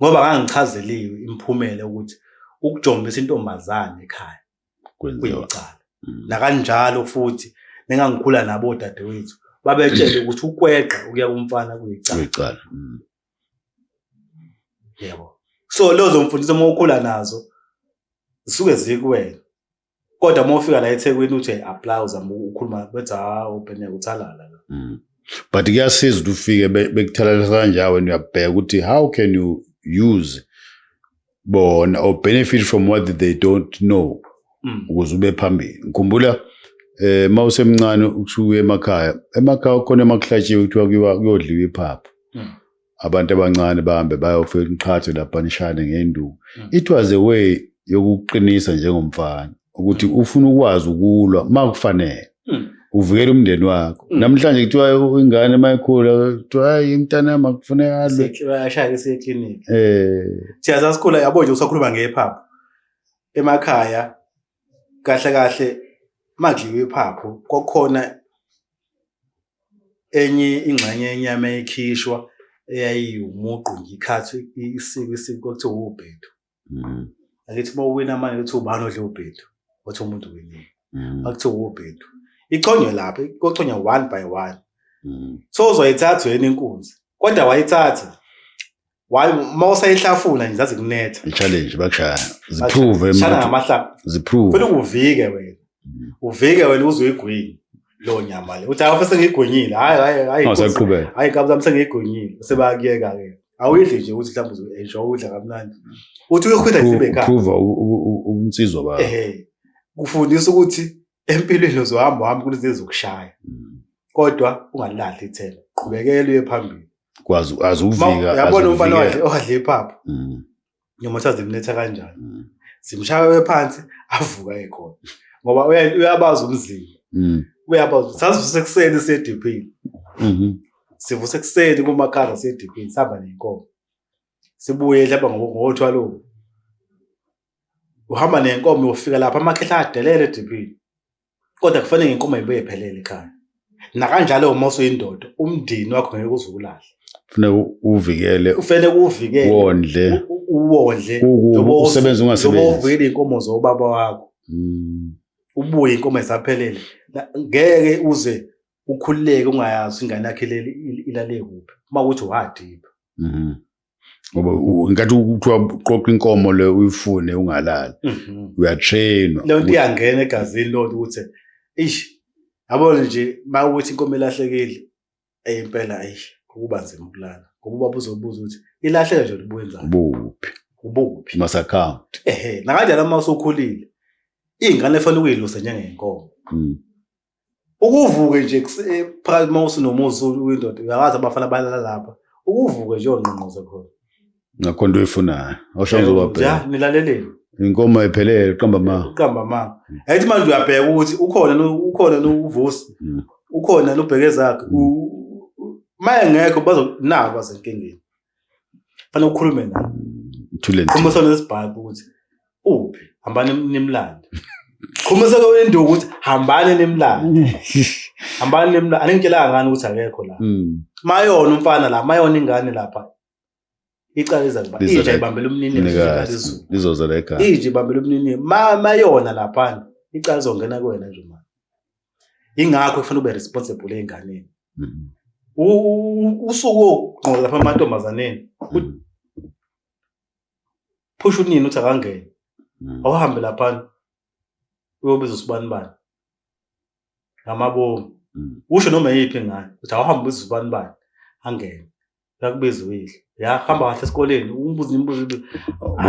ngoba ngangichazeliwe imphumela ukuthi ukujombisa intombazane ekhaya kuyicala mm. nakanjalo futhi nengangikhula nabo odadewethu babetshele ukuthi ukweqa ukuya kumfana kuyicala yebo so lezo mfundiso uma ukhula nazo zisuke zikuwena kodwa uma ufika la ethekwini uthi apply uzama ukhuluma bethi ha ubhene uthalala la mm. but kuyasiza ukuthi ufike bekuthalalisa kanjani wena uyabheka ukuthi how can you use bona or benefit from what they don't know mm. ukuze ube phambili ngikhumbula eh mawusemncane ukusuka emakhaya emakhaya khona emakuhlatshiwe kuthiwa kuyiwa kuyodliwa iphaphu mm. abantu abancane bahambe bayofela iqhathe lapha nishane ngenduku mm. it was a way yokuqinisa njengomfana ukuthi ufuna ukwazi ukulwa uma kufanele hmm. uvikele umndeni wakho hmm. namhlanje kuthiwa ingane uma ikhula kuthiwa hayi imntana yami akufuneka alwe um eh. siyaza sikhula yabo nje usakhuluma ngephaphu emakhaya kahle kahle makudliwa iphaphu kwakukhona enye ingxenye yenyama ekhishwa eyayiwumuqu ngikhathi isiko isiko kwakuthiwa wubhedu Mm. Angithi uma uwina manje uthi ubani odle ubhedu. Wathi umuntu winile. Mm. Bakuthi ubhedu. Ichonywe lapha, kochonywa one by one. Mm. So uzoyithatha yena inkunzi. Kodwa wayithatha. Wayi uma usayihlafuna nje zazi kunetha. Challenge bakushaya. Ziprove manje. Shana ngamahlapha. Ziprove. Funa ukuvike wena. Mm. Uvike wena uzoyigwini. lo nyama le uthi awafese ngigonyile hayi hayi hayi awusaqhubeka hayi kabla mse ngigonyile sebakuyeka ke awuyidli nje ukuthi mhlawumbe uzoyisho udla kamnandi uthi uyokhwela nje bekhaya prove ubunsizwa ba eh kufundisa ukuthi empilweni uzohamba hamba kulezi ezokushaya mm. kodwa ungalilahli ithemba qhubekela uye phambili kwazi azuvika yabona umfana wakhe owadle iphaphu mm. noma kuthiwa zimletha kanjani mm. zimshaya phansi avuka ekhona ngoba uyabazi umzimba mm. uyabazi sasivuse ekuseni siyediphini mm-hmm. sivuse ekuseni kumakhala siyediphini sihamba nenkomo sibuye hlaba ngothwalowo uhamba nenkomo ufika lapha amakhehla adelele ediphini kodwa kufanele ngenkomo yibuye iphelele ekhaya nakanjalo uma usuyindoda umndeni wakho ngeke uzukulahle kufuneka uvikele ufanele uvikele wondle uwondle usebenza ungasebenzi uvikele inkomo zobaba wakho hmm. ubuye inkomo esaphelele ngeke uze ukhululeke ungayazi ingane yakhe leli ilale kuphi uma ukuthi wadipha mhm. ngoba ngathi kuthiwa uqoqa inkomo le uyifune ungalali mhm. uyatrainwa leyo nto iyangena egazini leyo nto ukuthi ish yabona nje uma ukuthi inkomo ilahlekile eyempela ayish kuba nzima ukulala ngoba ubaba uzobuza ukuthi ilahleke nje ubuyenzani ubuphi ubuphi mas account ehe nakanjalo uma usukhulile ingane efanele ukuyilusa njengenkomo mm. ukuvuke nje eh, phakathi uma usinomuzi uyindoda uyakwazi abafana balala lapha ukuvuke nje ongqongqoze khona ngakho into oyifunayo osho ngizobabheka ja nilaleleni inkomo ephelele uqamba ma uqamba ma ayithi manje uyabheka ukuthi ukhona ukhona novusi hmm. ukhona nobheke zakhe hmm. maye ngekho bazonaba basenkingeni fanele ukhulume naye thule nje khumisa lesibhayi ukuthi uphi hambani nimlande khumisa lo into ukuthi hambani nimlande hambani nimlande aningitshelanga ngani ukuthi akekho la mm. mayona umfana la mayona ingane lapha icala iza kuba inja ibambela umnini lizoza la ekhaya inja ibambela umnini mayona lapha icala izongena kuwena nje manje ingakho kufanele ube responsible ezinganeni mm-hmm. usuku ogqoka lapha amantombazaneni mm-hmm. phusha unini uthi akangene mm-hmm. awuhambe lapha uyobiza usibani bani ngamabomu usho noma yiphi ngayo ukuthi awuhambe ubiza usibani bani angene yakubiza uyidla yahamba kahle esikoleni umbuzo imibuzo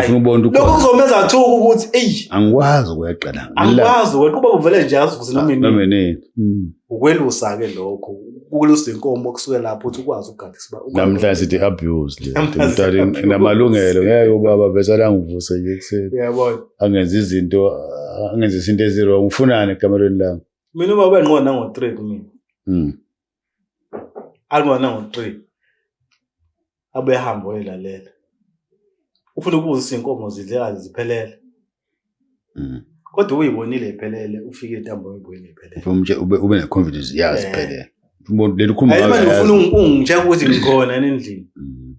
ngibona ukuthi lokho kuzomenza athuka ukuthi eyi angikwazi ukuyaqala angikwazi wena kuba uvele nje azivuze noma yini hmm. ukwelusa ke lokho ukwelusa inkomo kusuke lapho uthi ukwazi ukugada isiba namhlanje sithi abuse le umntwana inamalungelo ngeke ubaba bese langivuse nje kuseni uyabona angenza izinto angenza izinto ezirong ufunani ekamerweni lami mina ubaba enqona ngo 3 kumina hmm. alwana ngo-three abuye ahambe oyelalela ufuna ukuzisa iy'nkomo zidlekazi ziphelele Mm. kodwa uyibonile iphelele ufike intambo oyibonile iphelele Ufuna umtshe- ube ube ne-confidence yazi Eh. phelele Umuntu- leli khumba Hayi, manje uyazi. ufuna ungitshela ukuthi ngikhona yini endlini Mm.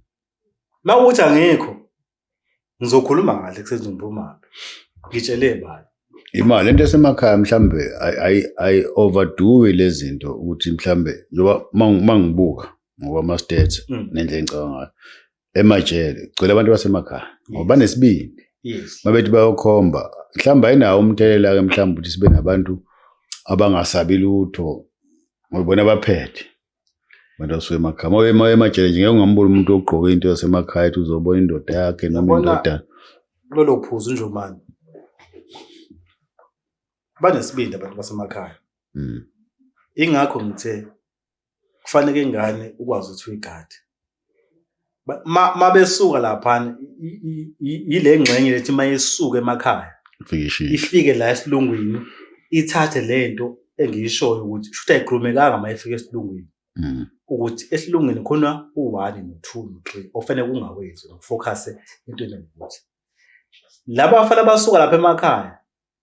uma ukuthi angikho ngizokhuluma kahle kusenzini uphumaphi ngitshele bani imali lento esemakhaya mhlambe i overdo lezinto ukuthi mhlambe njoba mangibuka ngokwama stats mm. nendlela engicabanga ngayo emajele kugcwele abantu basemakhaya ngoba banesibindi mabethi bayokhomba mhlawumbe ayinawo umthelela ke mhlawumbe ukuthi sibe nabantu abangasabi lutho ngoba bona baphethe abantu asuke emakhaya uma uye- uma uye emajele nje ngeke ungamboni umuntu ogqoke into yasemakhaya ethi uzobona indoda yakhe noma Yabona- indodana kulolo phuzu njomani banesibindi abantu basemakhaya Mm. ingakho ngithe kufanele ingane ukwazi ukuthi uyigade mabesuka laphana yile ngxenye lethi mayesuka emakhaya ifike la esilungwini ithathe le nto engiyishoyo ukuthi shuthi ayikhulumekanga uma efika esilungwini mm. ukuthi esilungwini khona u-one no-two no-three ofanele kungawenzi nokufokhase entweni yokuthi laba bafana basuka lapha emakhaya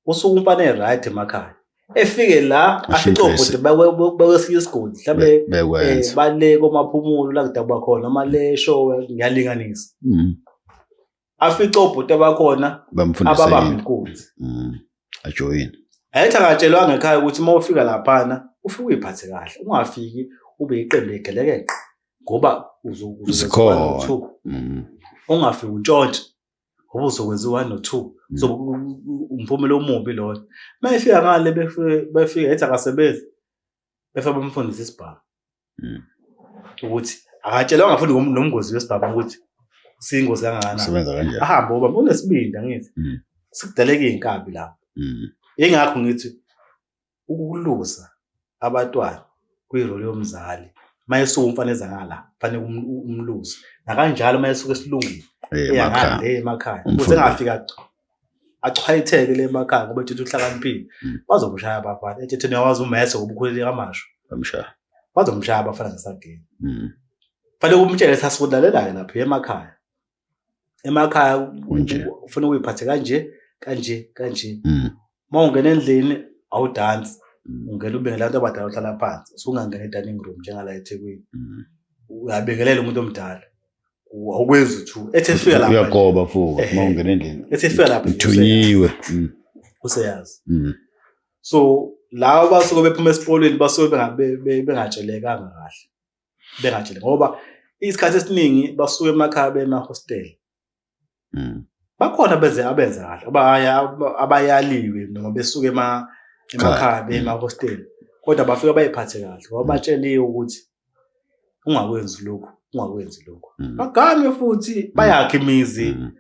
usuke umfana e-right emakhaya efike la afice obhuti bakwesinye isigodi mhlawumbe eh, bale komaphumulo la kudabwa khona noma le show ngiyalinganisa mm. afice obhuti abakhona ababamba inkunzi mm. ajoyini ayethi akatshelwanga ekhaya ukuthi uma ufika laphana ufike uyiphathe kahle ungafiki ube yiqembu egelekeqe ngoba uzikhona mm. ungafiki untshontshe ngoba uzokwenza u-one no two mm. so umphumela omubi loyo uma efika ngale befika ethi akasebenzi befa bamfundisa isibhamu mm. ukuthi akatshelwanga futhi nomngozi wesibhamu ukuthi siyingozi kangakanani ahambe oba unesibindi angithi mm. sikudaleka iy'nkabi lapho yingakho ngithi ukuluza abatwana kwirole yomzali uma esuke umfana ezangala fanele umluze nakanjalo uma esuke esilungile eyangale emakhaya kuze ngafika achwayitheke le emakhaya ngoba ethethe uhlakaniphile mm. bazokushaya abafana ethethe niyawazi umese ngobukhuleli kamasho bamshaya bazomshaya abafana ngesageni mm. fanele umtshele sasikulalelayo lapha emakhaya emakhaya Kunje. ufuna ukuyiphathe kanje kanje kanje Mm. uma ungena endlini awudansi Mm. ungena ubingelela abantu abadala uhlala phansi usungangena e-dining room njengala ethekwini Mm. uyabingelela umuntu omdala U- awukwenzi uthu ethi efika lapha nje, uyagoba fuka Ehe. uma ungena endlini ethi efika lapha nje, uthunyiwe Mm. useyazi Mm. so laba basuke bephuma esikolweni basuke benga- be- be- bengatshelekanga kahle bengajele ngoba isikhathi esiningi basuke emakhaya bemahostela mm. bakhona benze abenza kahle abaya abayaliwe noma besuke ema emakhaya mm. bemahostela kodwa bafika bayiphathe kahle ngoba mm. batsheliwe ukuthi ungakwenzi lokhu ungakwenzi lokhu mm. bagame futhi bayakhe imizi mm.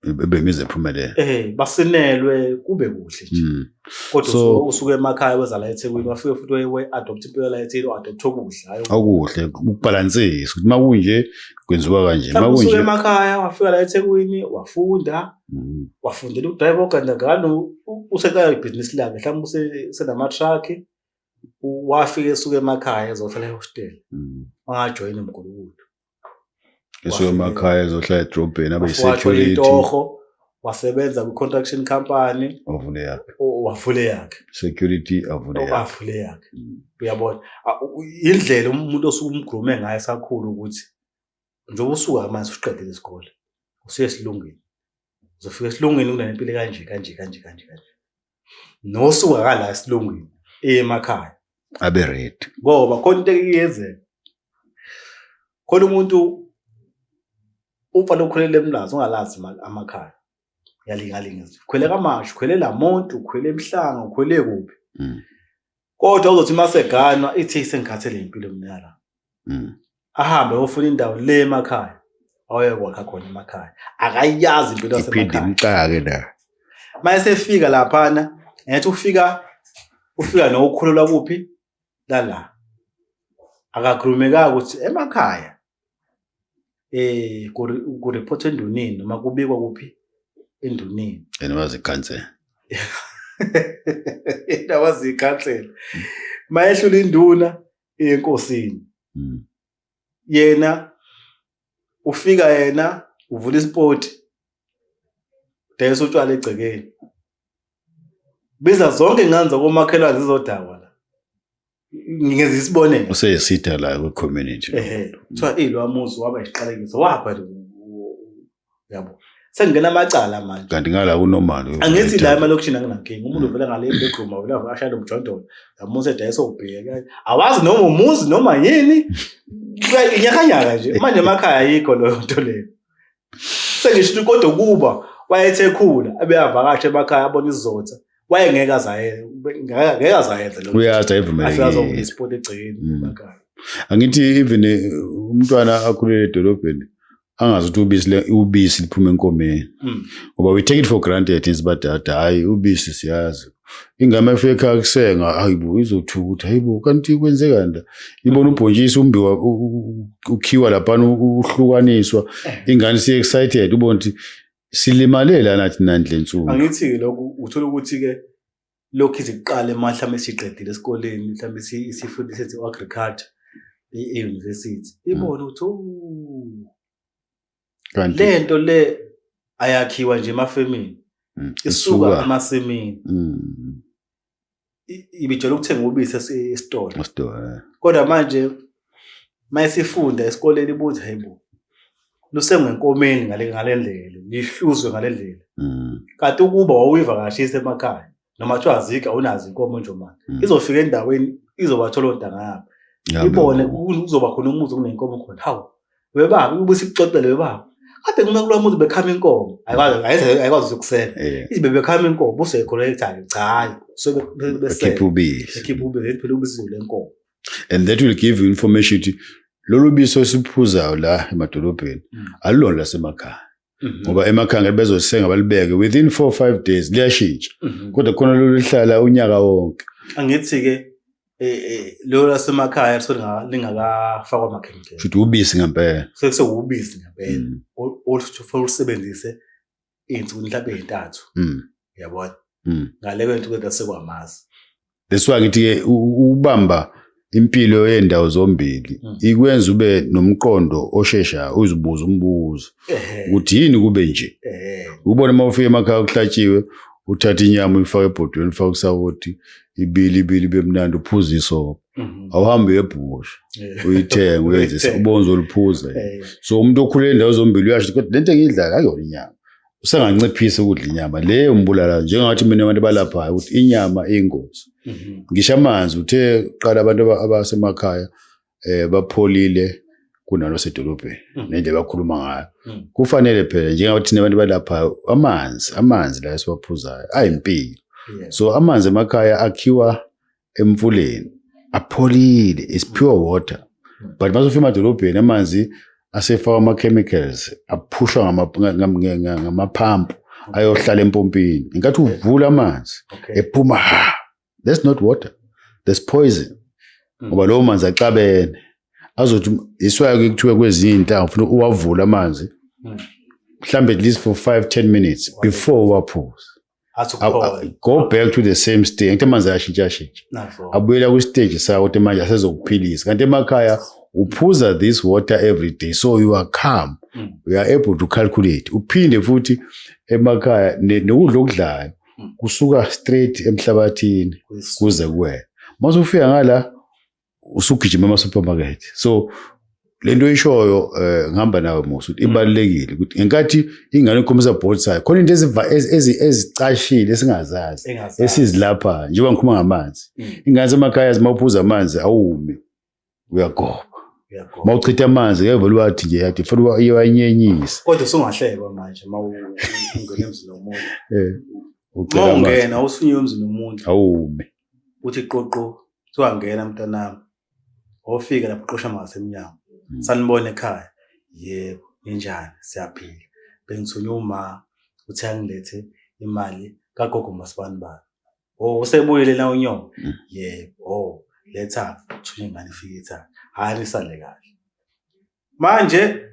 bengize phumelele eh basinelwe kube kuhle nje hmm. kodwa so, usuke emakhaya weza la eThekwini wafike futhi we adopt impilo la eThekwini o adopt okuhle hayo okuhle ukubalansisa ukuthi makunje kwenziwa kanje makunje usuke emakhaya wafika la eThekwini wafunda hmm. wafundela ukudrive oganda ngalo useqala ibusiness lakhe mhlawumbe usenama truck wafike esuke emakhaya ezohlala ehostel hmm. wangajoyina mgulukudu esuke emakhaya ezohlala edrobheni abe security itoho wasebenza ku construction company wavule yakhe wavule yakhe security avule yakhe avule yakhe mm. uyabona indlela umuntu osuke umgrume ngayo esakhulu ukuthi njengoba usuka manje usiqedile isikole usuye esilungwini uzofika esilungwini kunempilo kanje kanje kanje kanje kanje nosuka kala esilungwini emakhaya abe red ngoba khona into eyenzeka khona umuntu ufa lokhulele emlazi ungalazi amakhaya yalingalinga khwele kamashu khwele lamuntu khwele emhlanga khwele kuphi mm. kodwa uzothi uma seganwa ithe isengikhathele impilo mnyala mm. ahambe ofuna indawo le emakhaya awayekwakha khona emakhaya akayazi impilo yasemkhaya la uma esefika laphana ngathi ufika ufika nokukhulelwa kuphi lala akakhulumekanga ukuthi emakhaya eh ku report endunini noma kubikwa kuphi endunini and was cancel that was the cancel mayehlula induna enkosini hmm. yena ufika yena uvula isport dayisa utshwala egcekeni biza zonke inganza komakhelwane zizodakwa la ngingenza isibonelo useyesida la kwi community ehe kuthiwa ilo amuzi waba isiqalekiso wapha nje yabo sengena amacala manje kanti ngala kunomali angithi la emalokishini anginankinga umuntu uvela ngale bedroom awela ashaya lomjondolo yamusa edayisa ubheka awazi noma umuzi noma yini nyakanyaka nje manje emakhaya ayikho leyo nto leyo sengisho kodwa ukuba wayethe khula abeyavakasha emakhaya abona izizotha wayengeke azayengeke azayenze lokho uyazi ayivumelekile isiport egcekeni mm. emakhaya angithi even eh, umntwana akhulele edolobheni angazi ukuthi ubisi ubisi liphuma enkomeni mm. ngoba we take it for granted is badada hayi ubisi siyazi ingame efika ekhaya kusenga hayibo izothuka ukuthi hayibo kanti kwenzeka nda ibona ubhontshisi umbiwa ukhiwa laphana uhlukaniswa ingane siye excited ubona ukuthi silimalela nathi nandle nsuku angithi-ke lokhu uthola ukuthi-ke lokhu iziqale ma mhlawumbe siqedile esikoleni mhlawumbe isifundi sethi u-agriculture e-university ibona ukuthi Kanti lento le ayakhiwa nje emafemini. Mm, isuka emasimini. Mm. Ibijela ukuthenga ubisi esitolo. Esitolo. Eh. Kodwa manje mayisifunda esikoleni ibuthi hayibo. Lusengenkomeni ngale ngalendlela, lihluzwe ngalendlela. Mm. Kanti ukuba wawuyivakashisa emakhaya. noma kuthiwa azikho awunazo inkomo nje manje mm. izofika endaweni izobathola ontanga yabo ibone kuzoba khona umuzi kunenkomo khona hawu webaba ubuthi ikuxoxele webaba kade ngime kulo muzi bekhama inkomo ayikwazi ukusela eh. izibe bekhama inkomo buseyikhonekthane cha hayi sobekhipha ubisi ekhipha ubisi phela ubisi lenkomo and that will give you information ukuthi lolu biso esiphuzayo la emadolobheni mm. alulona lasemakhaya Mhm. ngoba emakhangeni bezolisenga balibeke within 4 5 days liyashintsha mhm. kodwa khona loluhlala unyaka wonke angithi ke eh, eh, lo lasemakhaya lisuke lingakafakwa amakhemikhali futhi ubisi ngempela futhi sewubisi ngempela mm. olufanele usebenzise izinsuku mhlawumbe ezintathu mm. yabona mm. ngale kwento kwento sekwamazi that's why ngithi ke ubamba impilo yendawo zombili hmm. ikwenza ube nomqondo oshesha uzibuza umbuzo ukuthi yini kube nje ubone uma ufika emakhaya kuhlatshiwe uthatha inyama uyifaka ebhodweni ufaka usawoti ibili ibili ibe mnandi uphuza isopo mhm. awuhambe uyebhusha uyithenga uyenzisa ubonza oluphuza so umuntu okhulele ndawo zombili uyasho kodwa lento engiyidlala ayona inyama usenganciphisa ukudla inyama le umbulala njengathi mina abantu balaphayo ukuthi inyama iyingozi mhm. ngisho amanzi uthe qala abantu abasemakhaya eh bapholile kunalo sedolobheni mhm. nendlela bakhuluma ngayo mhm. kufanele phela njengathi thina abantu balaphayo amanzi amanzi la esiwaphuzayo ayimpilo so amanzi emakhaya akhiwa emfuleni apholile is pure water but bazofika emadolobheni amanzi asefakwa ama-chemicals aphushwa ngamaphampu ayohlala empompini ngenkathi uvula amanzi ephuma ha that's not water that's poison hmm. ngoba lowo manzi axabene azothi iswayo ke kuthiwe kwezinye iy'nhlanga funa uwavule amanzi hmm. mhlawumbe at least for five ten minutes before uwaphuze go back to the same stage ngithe manje ayashintsha shintsha abuyela kwi stage sawo ukuthi manje asezokuphilisa kanti emakhaya uphuza this water every day so you are calm mm. you are able to calculate uphinde futhi emakhaya nokudla okudlayo mm. kusuka straight emhlabathini kuze kuwena mase ufika ngala usugijima ama-supermarket so le nto oyishoyo um eh, ngihamba nawe musa ukuthi ibalulekile ukuthi ngenkathi ingane ikhomisa board sayo khona into ezicashile esingazazi esizilaphayo njengoba ngikhuma ngamanzi mm. ingane semakhaya zima uphuza amanzi awumi uyagoba uma uchitha amanzi ngeke vele uwathi nje yathi funa iwanyenyise kodwa usungahlekwa manje uma ungena emzini womuntu eh, uma ungena usunywe emzini womuntu awumi uthi qoqo kuthiwa ngena mntanami ofika lapho qosha mangase emnyango hmm. sanibona ekhaya yebo ninjani siyaphila bengithunywe uma uthi angilethe imali kagogo masibani bani o oh, usebuyele la unyoko hmm. yebo o oh, letha thunywe ngane ifike ithanga hhayi lisale kahle manje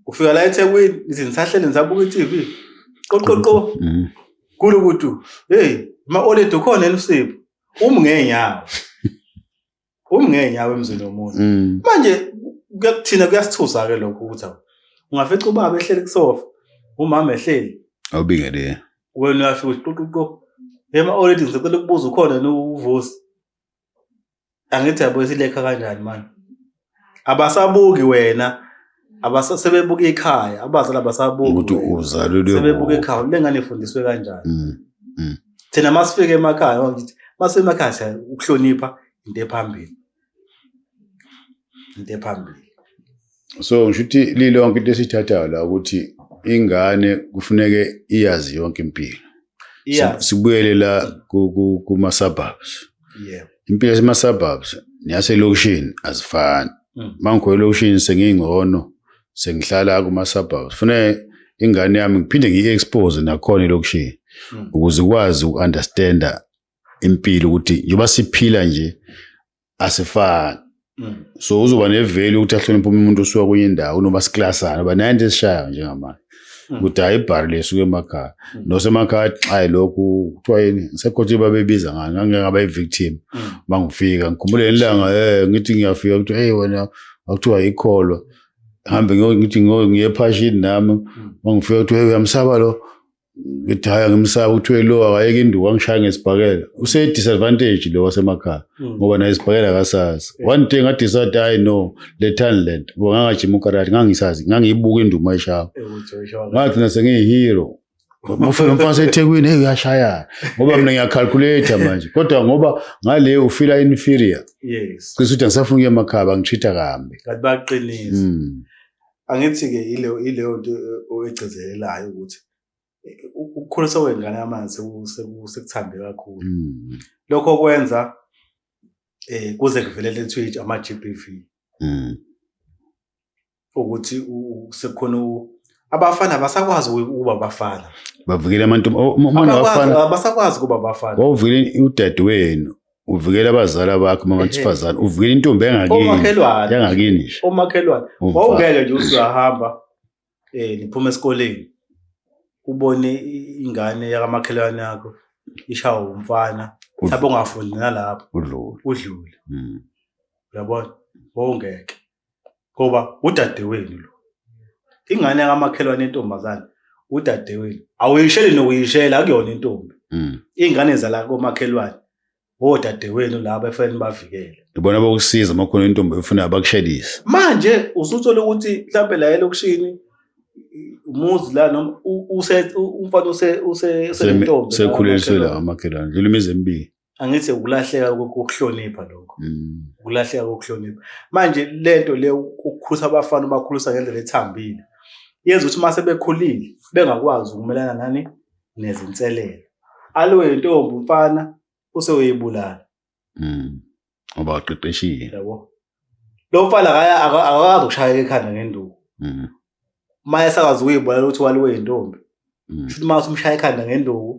ufika la eThekwini izinsahlele ngisabuka iTV qoqoqo mm. kulo ukuthi hey ma oledi ukhona elusipho umi ngeenyawo umi ngeenyawo emzini womuntu mm. manje kuyakuthina kuyasithusa ke lokho ukuthi ungafica ubaba ehleli kusofa umama ehleli awubingele wena uyafika uthi qoqoqo hey ma oledi ngicela ukubuza ukhona uvusi angithi yabo isilekha kanjani mani abasabuki wena abasebebuka ikhaya abazali abasabuki ukuthi uzalelwe sebebuka ikhaya le ngane ifundiswe kanjani mm, mm. thina masifike emakhaya ngithi masemakhaya siya ukuhlonipha into ephambili into ephambili so ngisho ukuthi lilonke into esithathayo la ukuthi ingane kufuneke iyazi yonke impilo yeah. sibuyele la kuma-suburbs yeah. impilo yasema-suburbs neyaselokishini azifani mm. mangikhona elokishini sengiyingcono sengihlala kuma-suburbs fune ingane yami ngiphinde ngiyi-expose nakhona elokishini mm. ukuze ikwazi uku-understanda impilo ukuthi njengoba siphila nje asifani mm. so uzoba neveli ukuthi ahloniphe omunye umuntu osuka kwenye indawo noma siklasana uba naye into esishayo njengamanje mm. ukuthi hayi ibhari lesuke emakhaya mm. nosemakhaya xayi lokhu kuthiwa yini ngisekhothi babebiza ngani ngangeke ngaba i-victim uma ngifika ngikhumbule ngelanga um ngithi ngiyafika kuthiwa eyi wena kwakuthiwa yikholwa hambe ngithi ngiye ephashini nami uma ngifika kuthiwa eyi uyamsaba lo ngithi hhayi angimsaba kuthiwe lo akayeke induku angishaya ngesibhakela use-disadvantage lo wasemakhaya hmm. ngoba naye isibhakela akasazi one day ngadisade hayi no lethani le nto ngoba ngangajima ukarati ngangisazi ngangiyibuka induku mayishaya ngagcina sengiyihero ufike mfana ethekwini hey uyashayana ngoba mina ngiyacalculator manje kodwa ngoba ngale ufila inferior yes kusho ukuthi angisafuna ukuya emakhaya bangitreat kambi kanti baqinisa hmm. Angithi-ke ileyo nto oyigcizelelayo ukuthi ukukhuliswa kwengane yamanzi sekuthambe kakhulu. Mm. Lokho kwenza eh kuze kuvelele eTwitch ama-GBV. Mm. Ukuthi sekukhona abafana abasakwazi ukuba abafana. Bavukile amantombi oh, uma abafana abasakwazi ukuba abafana. Wawuvukile udadewenu. uvikela abazali abakho uma mantsifazane uvikela intombi engakininmakhelwane yangakini nje omakhelwane wawungeke nje uthi uyahamba um niphuma esikoleni ubone ingane yakamakhelwane yakho ishawa umfana mhlawumbe ungafundi nalapho udlule udlule hmm. uyabona wawungeke ngoba udadewenu lo ingane yakamakhelwane intombazane udadewenu awuyisheli nokuyishela akuyona intombi mm. iy'ngane zala komakhelwane odadewenu oh, laba efanele bavikele ibona bokusiza uma khona intombi efuna bakushelise manje usuthole ukuthi mhlawumbe la elokishini umuzi la noma umfana usentombi sekhuleliswe la amakhelwane ndlula imizi emibili angithi ukulahleka kokuhlonipha lokho mm. ukulahleka kokuhlonipha manje lento le ukukhusa abafana ubakhulusa ngendlela ethambile yenza ukuthi uma sebekhulile bengakwazi ukumelana nani nezinselelo aloyo ntombi umfana useweyibulala mm. ngoba waqeqeshile yabo lo mfana akaya akakwazi ukushayeka ekhanda ngenduku mhm uma esakwazi ukuyibona ukuthi waliwe yintombi mhm. shuthi uma usumshaya ekhanda ngenduku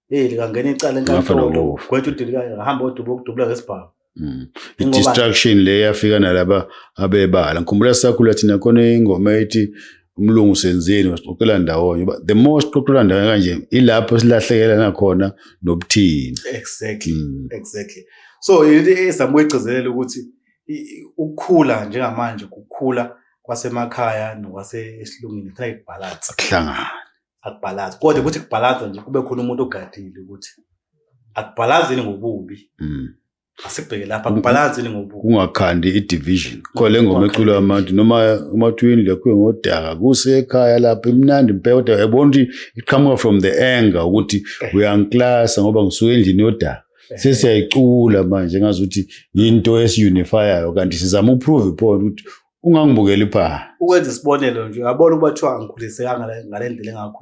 hey likangena icala enkantolo gwethu udilikayo ngahamba odubo ukudubula ngesibhamu Mm. I-distraction le yafika nalaba abebala. Ngikhumbula sakhula thina khona ingoma ethi umlungu senzeni wasixoxela ndawonye uba the more sixoxela ndawonye kanje ilapho silahlekelana khona nobuthina exactly mm. exactly so into ezama ukuyigcizelela ukuthi ukukhula njengamanje kukhula kwasemakhaya nokwasesilungwini kufanele kubhalanse kuhlangane akubhalanse kodwa ukuthi kubhalanse nje kube khona umuntu ogadile ukuthi akubhalazini ngobubi mm. asibheke lapha kubhalansi ni ngobuko kungakhandi i-division khole ngoma eculo yamantu noma umatwini lekhuye ngodaka kusekhaya lapha imnandi impela kodwa yabona ukuthi iqhamuka from the anger ukuthi eh. uyangiklasa ngoba ngisuke endlini yodaka eh. sesiyayicula manje ngazi ukuthi yinto esiunifyayo kanti sizama uprove point ukuthi ungangibukeli pha ukwenza isibonelo nje uyabona ukuba kuthiwa angikhulisekanga ngale ndlela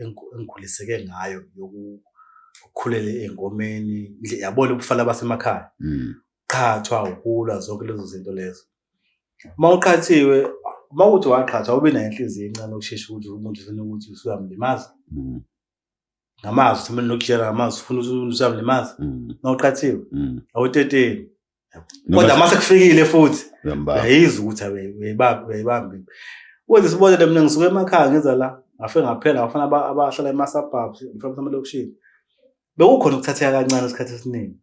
engikhuliseke ngayo yokukhulele engomeni yabona ubufala basemakhaya hmm. qhathwa ukulwa zonke lezo zinto lezo uma uqhathiwe uma uthi waqhathwa ube nayo inhliziyo encane ukushesha ukuthi umuntu ufuna ukuthi usuyamlimaza hmm. ngamazwi themeni nokujela ngamazwi ufuna usuyami le mazi mm. nawuqathiwe mm. awuteteni kodwa uma sekufikile futhi uyayizwa ukuthi uyayibambe wenze sibone le mina ngisuke emakhaya ngiza la ngafe ngaphela ngafana abahlala ema-suburbs mhlawumbe amalokishini bekukhona ukuthatheka kancane isikhathi esiningi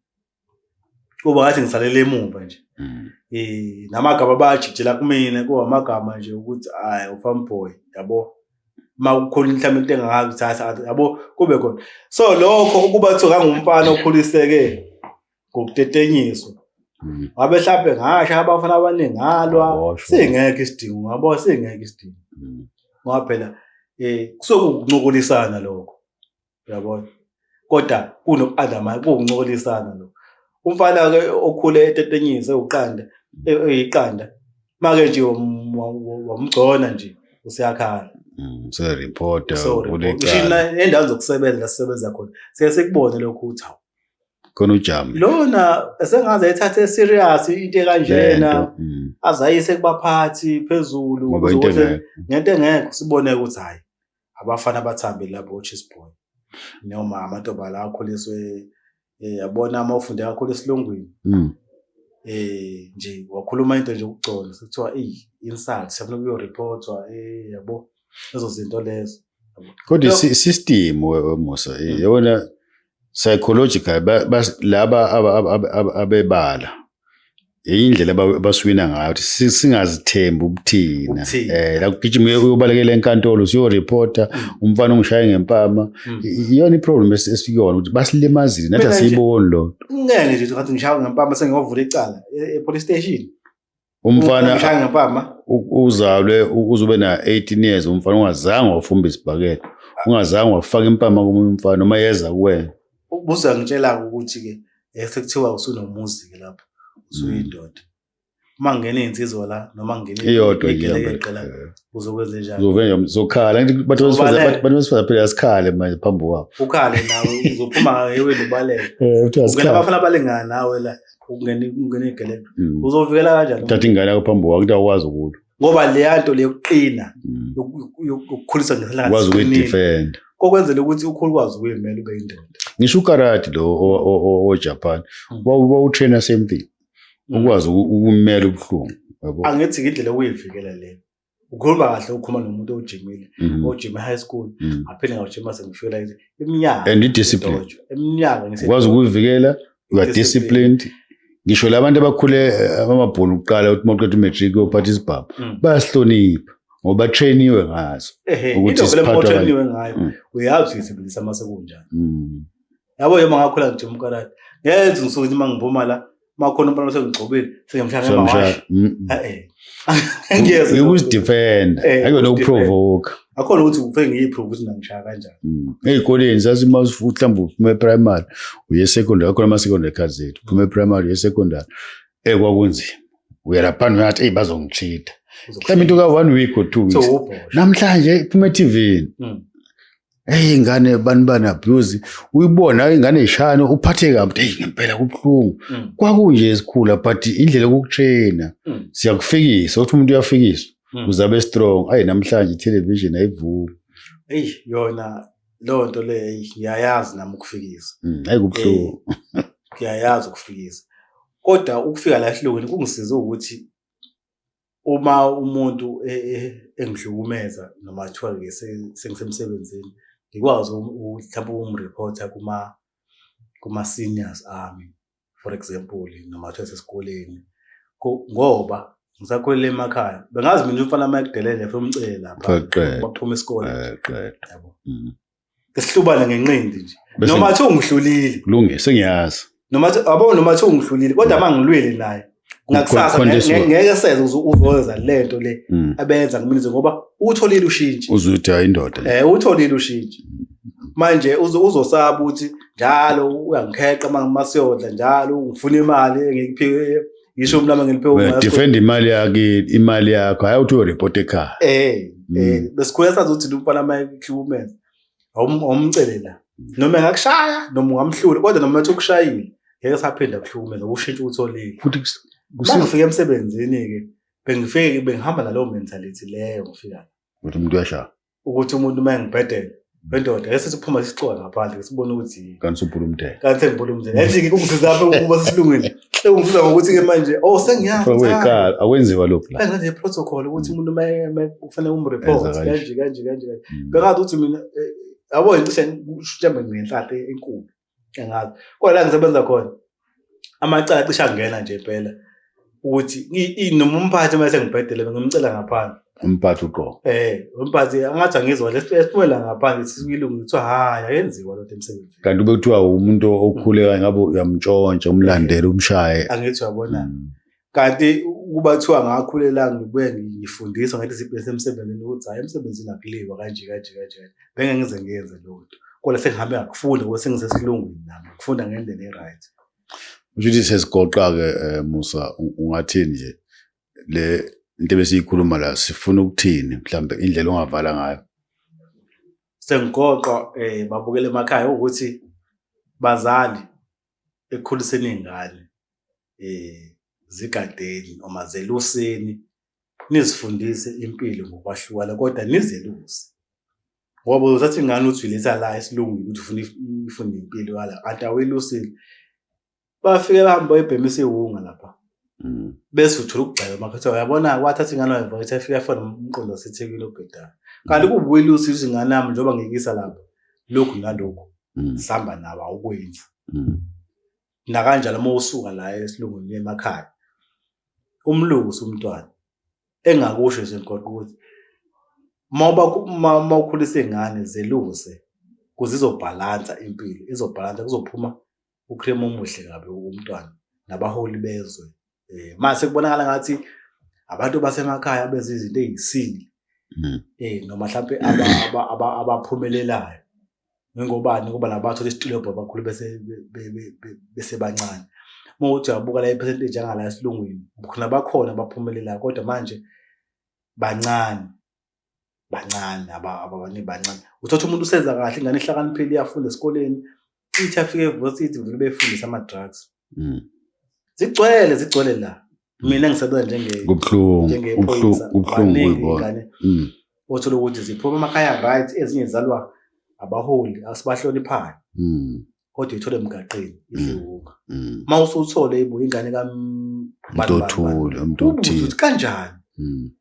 kuba ngathi ngisalele emuva nje mm. eh namagama abajikjela kumina kuba amagama nje ukuthi hayi ufam boy yabo uma kukhona mhlawumbe into engakuthatha yabo kube khona so lokho ukuba kuthiwa ngangumfana okhuliseke ngokutetenyiswa mm. wabe mhlawumbe ngasho abafana abaningi ngalwa singekho isidingo ngabo singekho isidingo mm. ngoba phela um kusuke ukuncokolisana lokho uyabona kodwa kunoku-undermine kuwukuncolisana lo umfana-ke okhule etetenyise uqanda e- eyiqanda make nje wam- wa- wa- wamgcona nje useyakhala Mm, Useripota So, ngisho ulecala na- endaweni zokusebenza la sisebenza khona siye sikubone lokho ukuthi hawu khona ujama. lona esengaze ethathe serious into ekanjena Lento, mm, azayise kubaphathi phezulu Ngoba into ukuze engekho. ngento engekho sibone ukuthi hayi abafana abathambe lapho ochis boy noma amantombazane lawa akhuliswe um yabona uma ufunde kakhulu esilungwini um nje wakhuluma into nje ukugcola sekuthiwa i-insult siyafuna kuyoriphothwa um yabo lezo zinto lezo kodwa i-system wemusa yona psychological laba abebala indlela abaswina ngayo ukuthi singazithembi ubuthina eh la kugijima uyobalekela enkantolo usiyoreporta mm. umfana ongishaye ngempama mm. iyona iproblem esikuyona ukuthi basilimazile nathi asiyiboni lo ngeke nje ngathi ngishaya ngempama sengiyovula icala e-, e-police station umfana Umshanga mpama. u- uzalwe u- uzube na 18 years umfana ungazange wafumba isibhakela ungazange wafaka impama komunye umfana uma yeza kuwena Ubuza ngitshela ukuthi ke eh, sekuthiwa usunomuzi ke lapha. Usuyindoda. Uma ngena insizwa la noma ngena iyodwa igelekeqe la uzokwenza njani? uzovele zokhala ngithi bathu besifazane Ubaleke. bathu- bathu besifazane phela asikhale manje phambi kwabo Ukhale nawe uzophuma ngayo eweni ubaleke. eh uthiwa Ungena sikhale abafana balingana nawe la. ukungena ukungena igeledu Mm. uzovikela kanjani thatha ingane yakho phambi kwakho kuthiwa ukwazi ukulwa ngoba leya nto leyokuqina Mm. yoku- yoku- yokukhulisa ngesilanga ukwazi siqinile, ukuyidefenda kokwenzela ukuthi ukhulu kwazi ukuyimela ube indoda ngisho ukarati lo o- o- o- ojapan Mm. wawutraina same thing ukwazi uku- ukumela ubuhlungu yabo angithi ngindlela okuyivikela le ukhuluma kahle ukhuluma nomuntu ojimile mm. ojime high school mm. aphinde ngawujima sengishwela ithi iminyaka and discipline iminyaka ngikwazi ukuyivikela you are disciplined ngisho labantu abakhule eh, abamabhulu uqala ukuthi maqeda umatric yophatha isibhabu mm. bayasihlonipha ngoba batrainiwe ngazo ukuthi siphathwa ngayo uyazi uyisebenzisa mase kunjani yabo yema ngakhula nje umkarati ngenze ngisuke ukuthi uma ngiphuma la uma khona umfana osengigxobile sengimshaya ngemawashi ngiyeza ukuzidefenda akuyona ukuprovoka akhona ukuthi kufe ngiyiprove ukuthi ngangishaya kanjani mm. ey'koleni sasima mhlawumbe uphume primary uye secondary akhona ama-secondary cards ethu uphume primary uye secondary eyi eh, kwakunzima uyalaphana uyathi eyi bazongitshida mhlawumbe into ka-one week or two weeks namhlanje iphume ethivini mm. eyi ingane abantu bana-abuse uyibona ingane ishane uphathe kabi eyi ngempela kubuhlungu mm. kwakunje ezikhula but indlela yokukushena mm. siyakufikisa ukuthi umuntu uyafikiswa mm. uzabe strong ayi namhlanje ithelevishini ayivumi eyi yona leyo nto leyo eyi ngiyayazi nami ukufikisa mm, ayi kubuhlungu eh, ngiyayazi ukufikisa kodwa ukufika la ehlokweni kungisize ukuthi uma umuntu e, e, engihlukumeza noma kuthiwa ke sengisemsebenzini ngikwazi mhlawumbe ukumreporta kuma kuma-seniors ami for example noma kuthiwa sesikoleni ngoba ngisakhulele emakhaya bengazi mina umfana uma ekudelele funa umcele lapha baphuma isikole yabo mm. ngesihlubane ngenqindi nje Bese- noma kuthiwa ungihlulile kulunge sengiyazi noma kuthiwa- yabo noma kuthiwa ungihlulile kodwa uma ngilwile naye ngakusasa Khona nge- leswa. nge- ngeke seze uzo- uzoyenza le nto le Mm. abenza ngiminize ngoba utholile ushintshi uzwe ukuthi hayi indoda le. eh utholile ushintshi manje uzo- uzosaba ukuthi njalo uyangikheqa uma uma siyodla njalo ungifuna imali engikuphiwe ngisho mina ngiliphe uma defend imali yakhe imali yakho hayi uthi report ekhaya eh mm. eh besikhula sazi ukuthi lomfana ama equipment awumcelela noma ngakushaya noma ungamhlula kodwa noma uthi ukushayile ngeke saphinda kuhlukumeza ukushintsha utholile futhi kusifika emsebenzini ke bengifike bengihamba nalowo mentality leyo ngifika ukuthi umuntu uyashaya ukuthi umuntu uma engibhedela wendoda ngeke sesiphuma sisixola ngaphandle ke sibone ukuthi yini kanti subhula umdela kanti sengibhula umdela yathi ke kungisiza lapho ukuba sisilungile sekungisiza ngokuthi ke manje oh sengiyazi wekhala akwenziwa lokho la kanti nje protocol ukuthi mm. umuntu uma kufanele umreport kanje kanje kanje mm. bengathi uthi mina eh, yabo incishe mhlawumbe ngenhlanhla enkulu engazi kodwa la ngisebenza khona amacala cishe angena nje impela ukuthi noma umphathi uma sengibhedele ngimcela ngaphandle umphathi uqobo eh umphathi angathi angizwa lesiphume la ngaphandle sisilungu kuthiwa hayi ayenziwa lo emsebenzini kanti ube kuthiwa umuntu okhuleka ngabe uyamtshontsha umlandela umshaye angithi uyabona mm. kanti ukuba kuthiwa ngakhulela ngibuye ngifundiswa ngathi sibhese emsebenzini ukuthi hhayi emsebenzini akuliwa kanje kanje kanje kanje benge ngize ngiyenze leyo nto kodwa sengihambe ngakufunda ngoba sengisesilungwini nami ngifunda ngendlela e-right kusho ukuthi sesigoqa-ke um musa ungathini nje le into ebesiyikhuluma la sifuna ukuthini mhlawumbe indlela ongavala ngayo sengigoqwa um babukele emakhaya ukuthi bazali ekukhuliseni iy'ngane um zigadeni noma zeluseni nizifundise impilo ngokwahlukana kodwa nizeluse ngoba uzathi ingane uthi uyiletha la esilungwini ukuthi ufuna ifunde impilo yala kanti awelusile bafike bahambe bayibhemisa iwunga lapha mm. bese uthola ukugxeka uma kuthiwa uyabona kwathatha ingane wayo mfowethu efika efona umqondo wasethekile obhedayo kanti mm. kuwuwile usiza ingane yami njengoba ngiyikisa lapho lokhu nalokhu mm. sihamba nawo awukwenzi nakanjalo uma usuka la esilungwini emakhaya umlungu usumntwana engakusho nje nkoqo ukuthi uma ukhulisa ingane zeluse kuze izobhalansa impilo izobhalansa kuzophuma ukrem omuhle kabi umntwana nabaholi bezwe eh mase kubonakala ngathi abantu basemakhaya benza izinto eziyisingi hmm. eh noma mhlawumbe abaphumelelayo ngengobani kuba nabathu lesitulo bakhulu bese bese bancane uma uthi uyabuka la ipercentage angala esilungwini khona bakhona baphumelelayo kodwa manje bancane bancane abanye bancane uthatha umuntu usenza kahle ingane ihlakaniphile iyafunda esikoleni ithi afike evosithi vele befundisa ama-drugs mm. zigcwele zigcwele la mina ngisebenza njengeuphoyisaaeingane mm. othola ukuthi ziphuma emakhaya right ezinye zalwa abaholi asibahloniphani mm. kodwa uyithole emgaqeni iziwunga mm, mm. uma usuthole ibuye ingane kamntothule umuntu othile ukuthi kanjani mm.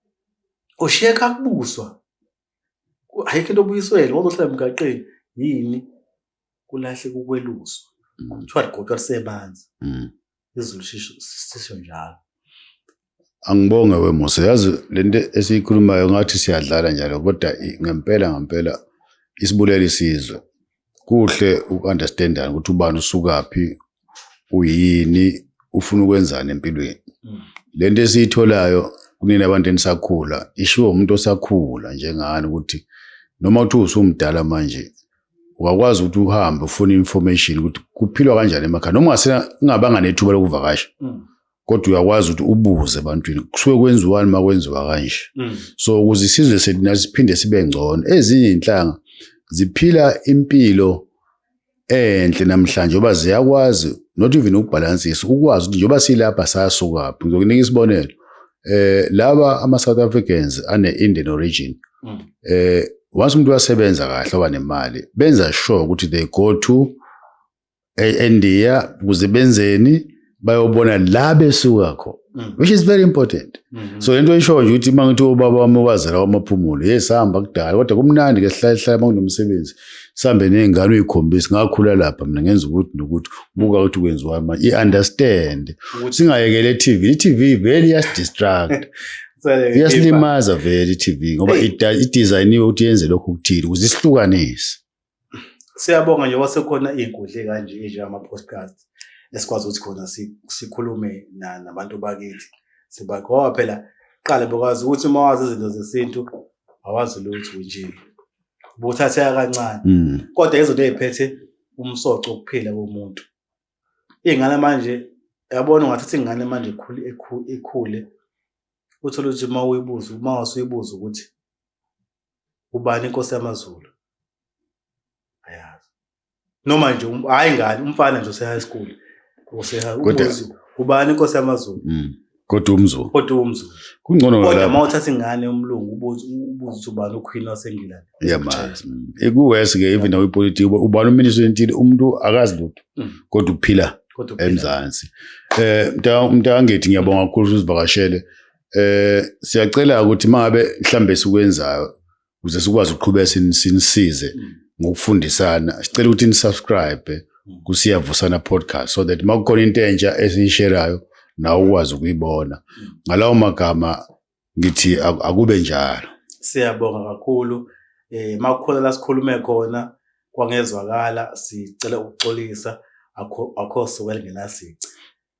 ushiye kakubuswa ayikho into obuyiswele wazohlala emgaqeni yini kulahle kukweluswa kuthiwa ligotshwa lisemanzi izulu sisho njalo angibonge wemusa yazi lento esiyikhulumayo ngathi siyadlala njalo kodwa ngempela ngempela isibulele isizwe kuhle ukunderstandana ukuthi ubani usukaphi uyini ufuna ukwenzani empilweni mm. lento esiyitholayo kunina abantu enisakhula ishiwo umuntu osakhula njengani ukuthi noma uthi usumdala manje wakwazi ukuthi uhambe ufune information ukuthi kuphilwa kanjani emakhaya noma ungasengabanga nethuba lokuvakasha mm. kodwa uyakwazi ukuthi ubuze ebantwini kusuke kwenziwani uma kwenziwa kanje mm. so ukuze isizwe sethu nathi siphinde sibe ngcono ezinye iy'nhlanga ziphila impilo enhle namhlanje ngoba ziyakwazi not even ukubhalansisa ukwazi ukuthi njengoba silapha sasukaphi ngizokunika isibonelo eh laba ama South Africans ane Indian origin mm. eh once umuntu wasebenza kahle wanemali benza sure ukuthi they go to eIndia eh, kuze benzeni bayobona la besuka khona mm. which is very important mm -hmm. so lento isho nje ukuthi mangithi ubaba wami wazela wamaphumulo yes hamba kudala kodwa kumnandi ke sihlale sihlale manginomsebenzi sihambe ney'ngane uyikhombise ngakhula lapha mina ngenza ukuthi nokuthi buka ukuthi kwenziwa manje i-understand singayekele i-tv i-tv vele iyasidistract iyasilimaza vele i-tv ngoba idizayiniwe ukuthi yenze lokhu okuthile ukuze isihlukanise siyabonga nje wasekhona iy'nkundle kanje enjengama-postcast esikwazi ukuthi khona sikhulume nabantu bakithi sibagoba phela qala bekwazi ukuthi uma wazi izinto zesintu awazi lutho nje buthatheka kancane mm. kodwa izinto eziphethe umsoco ukuphila komuntu ingane manje yabona ungathatha ingane manje ikhule ikhule uthole ukuthi uma uyibuza uma wasuyibuza ukuthi ubani inkosi yamazulu ayazi noma nje um, hayi ngani umfana nje ose-high school ubani inkosi yamazulu mm. kodwa umzulu kodwa umzulu kungcono kodwa uma uthatha ingane umlungu ubuze ukuthi ubani uqueen wasengilani yamazi mm. ikuwesi ke even nawe ipolitiki ubani uminister wentile umuntu akazi lutho mm. kodwa uphila emzansi eh mntangithi ngiyabonga kakhulu usivakashele eh siyacela ukuthi mangabe mhlambe sikwenzayo ukuze sikwazi ukuqhubeka sinisize mm. ngokufundisana sicela ukuthi nisubscribe mm. kusiyavusana podcast so that uma kukhona into entsha esiyisherayo nawe ukwazi ukuyibona mm. ngalawo magama ngithi akube njalo siyabonga kakhulu eh makukhona la sikhulume khona kwangezwakala sicela ukuxolisa akho akho suka lingenasici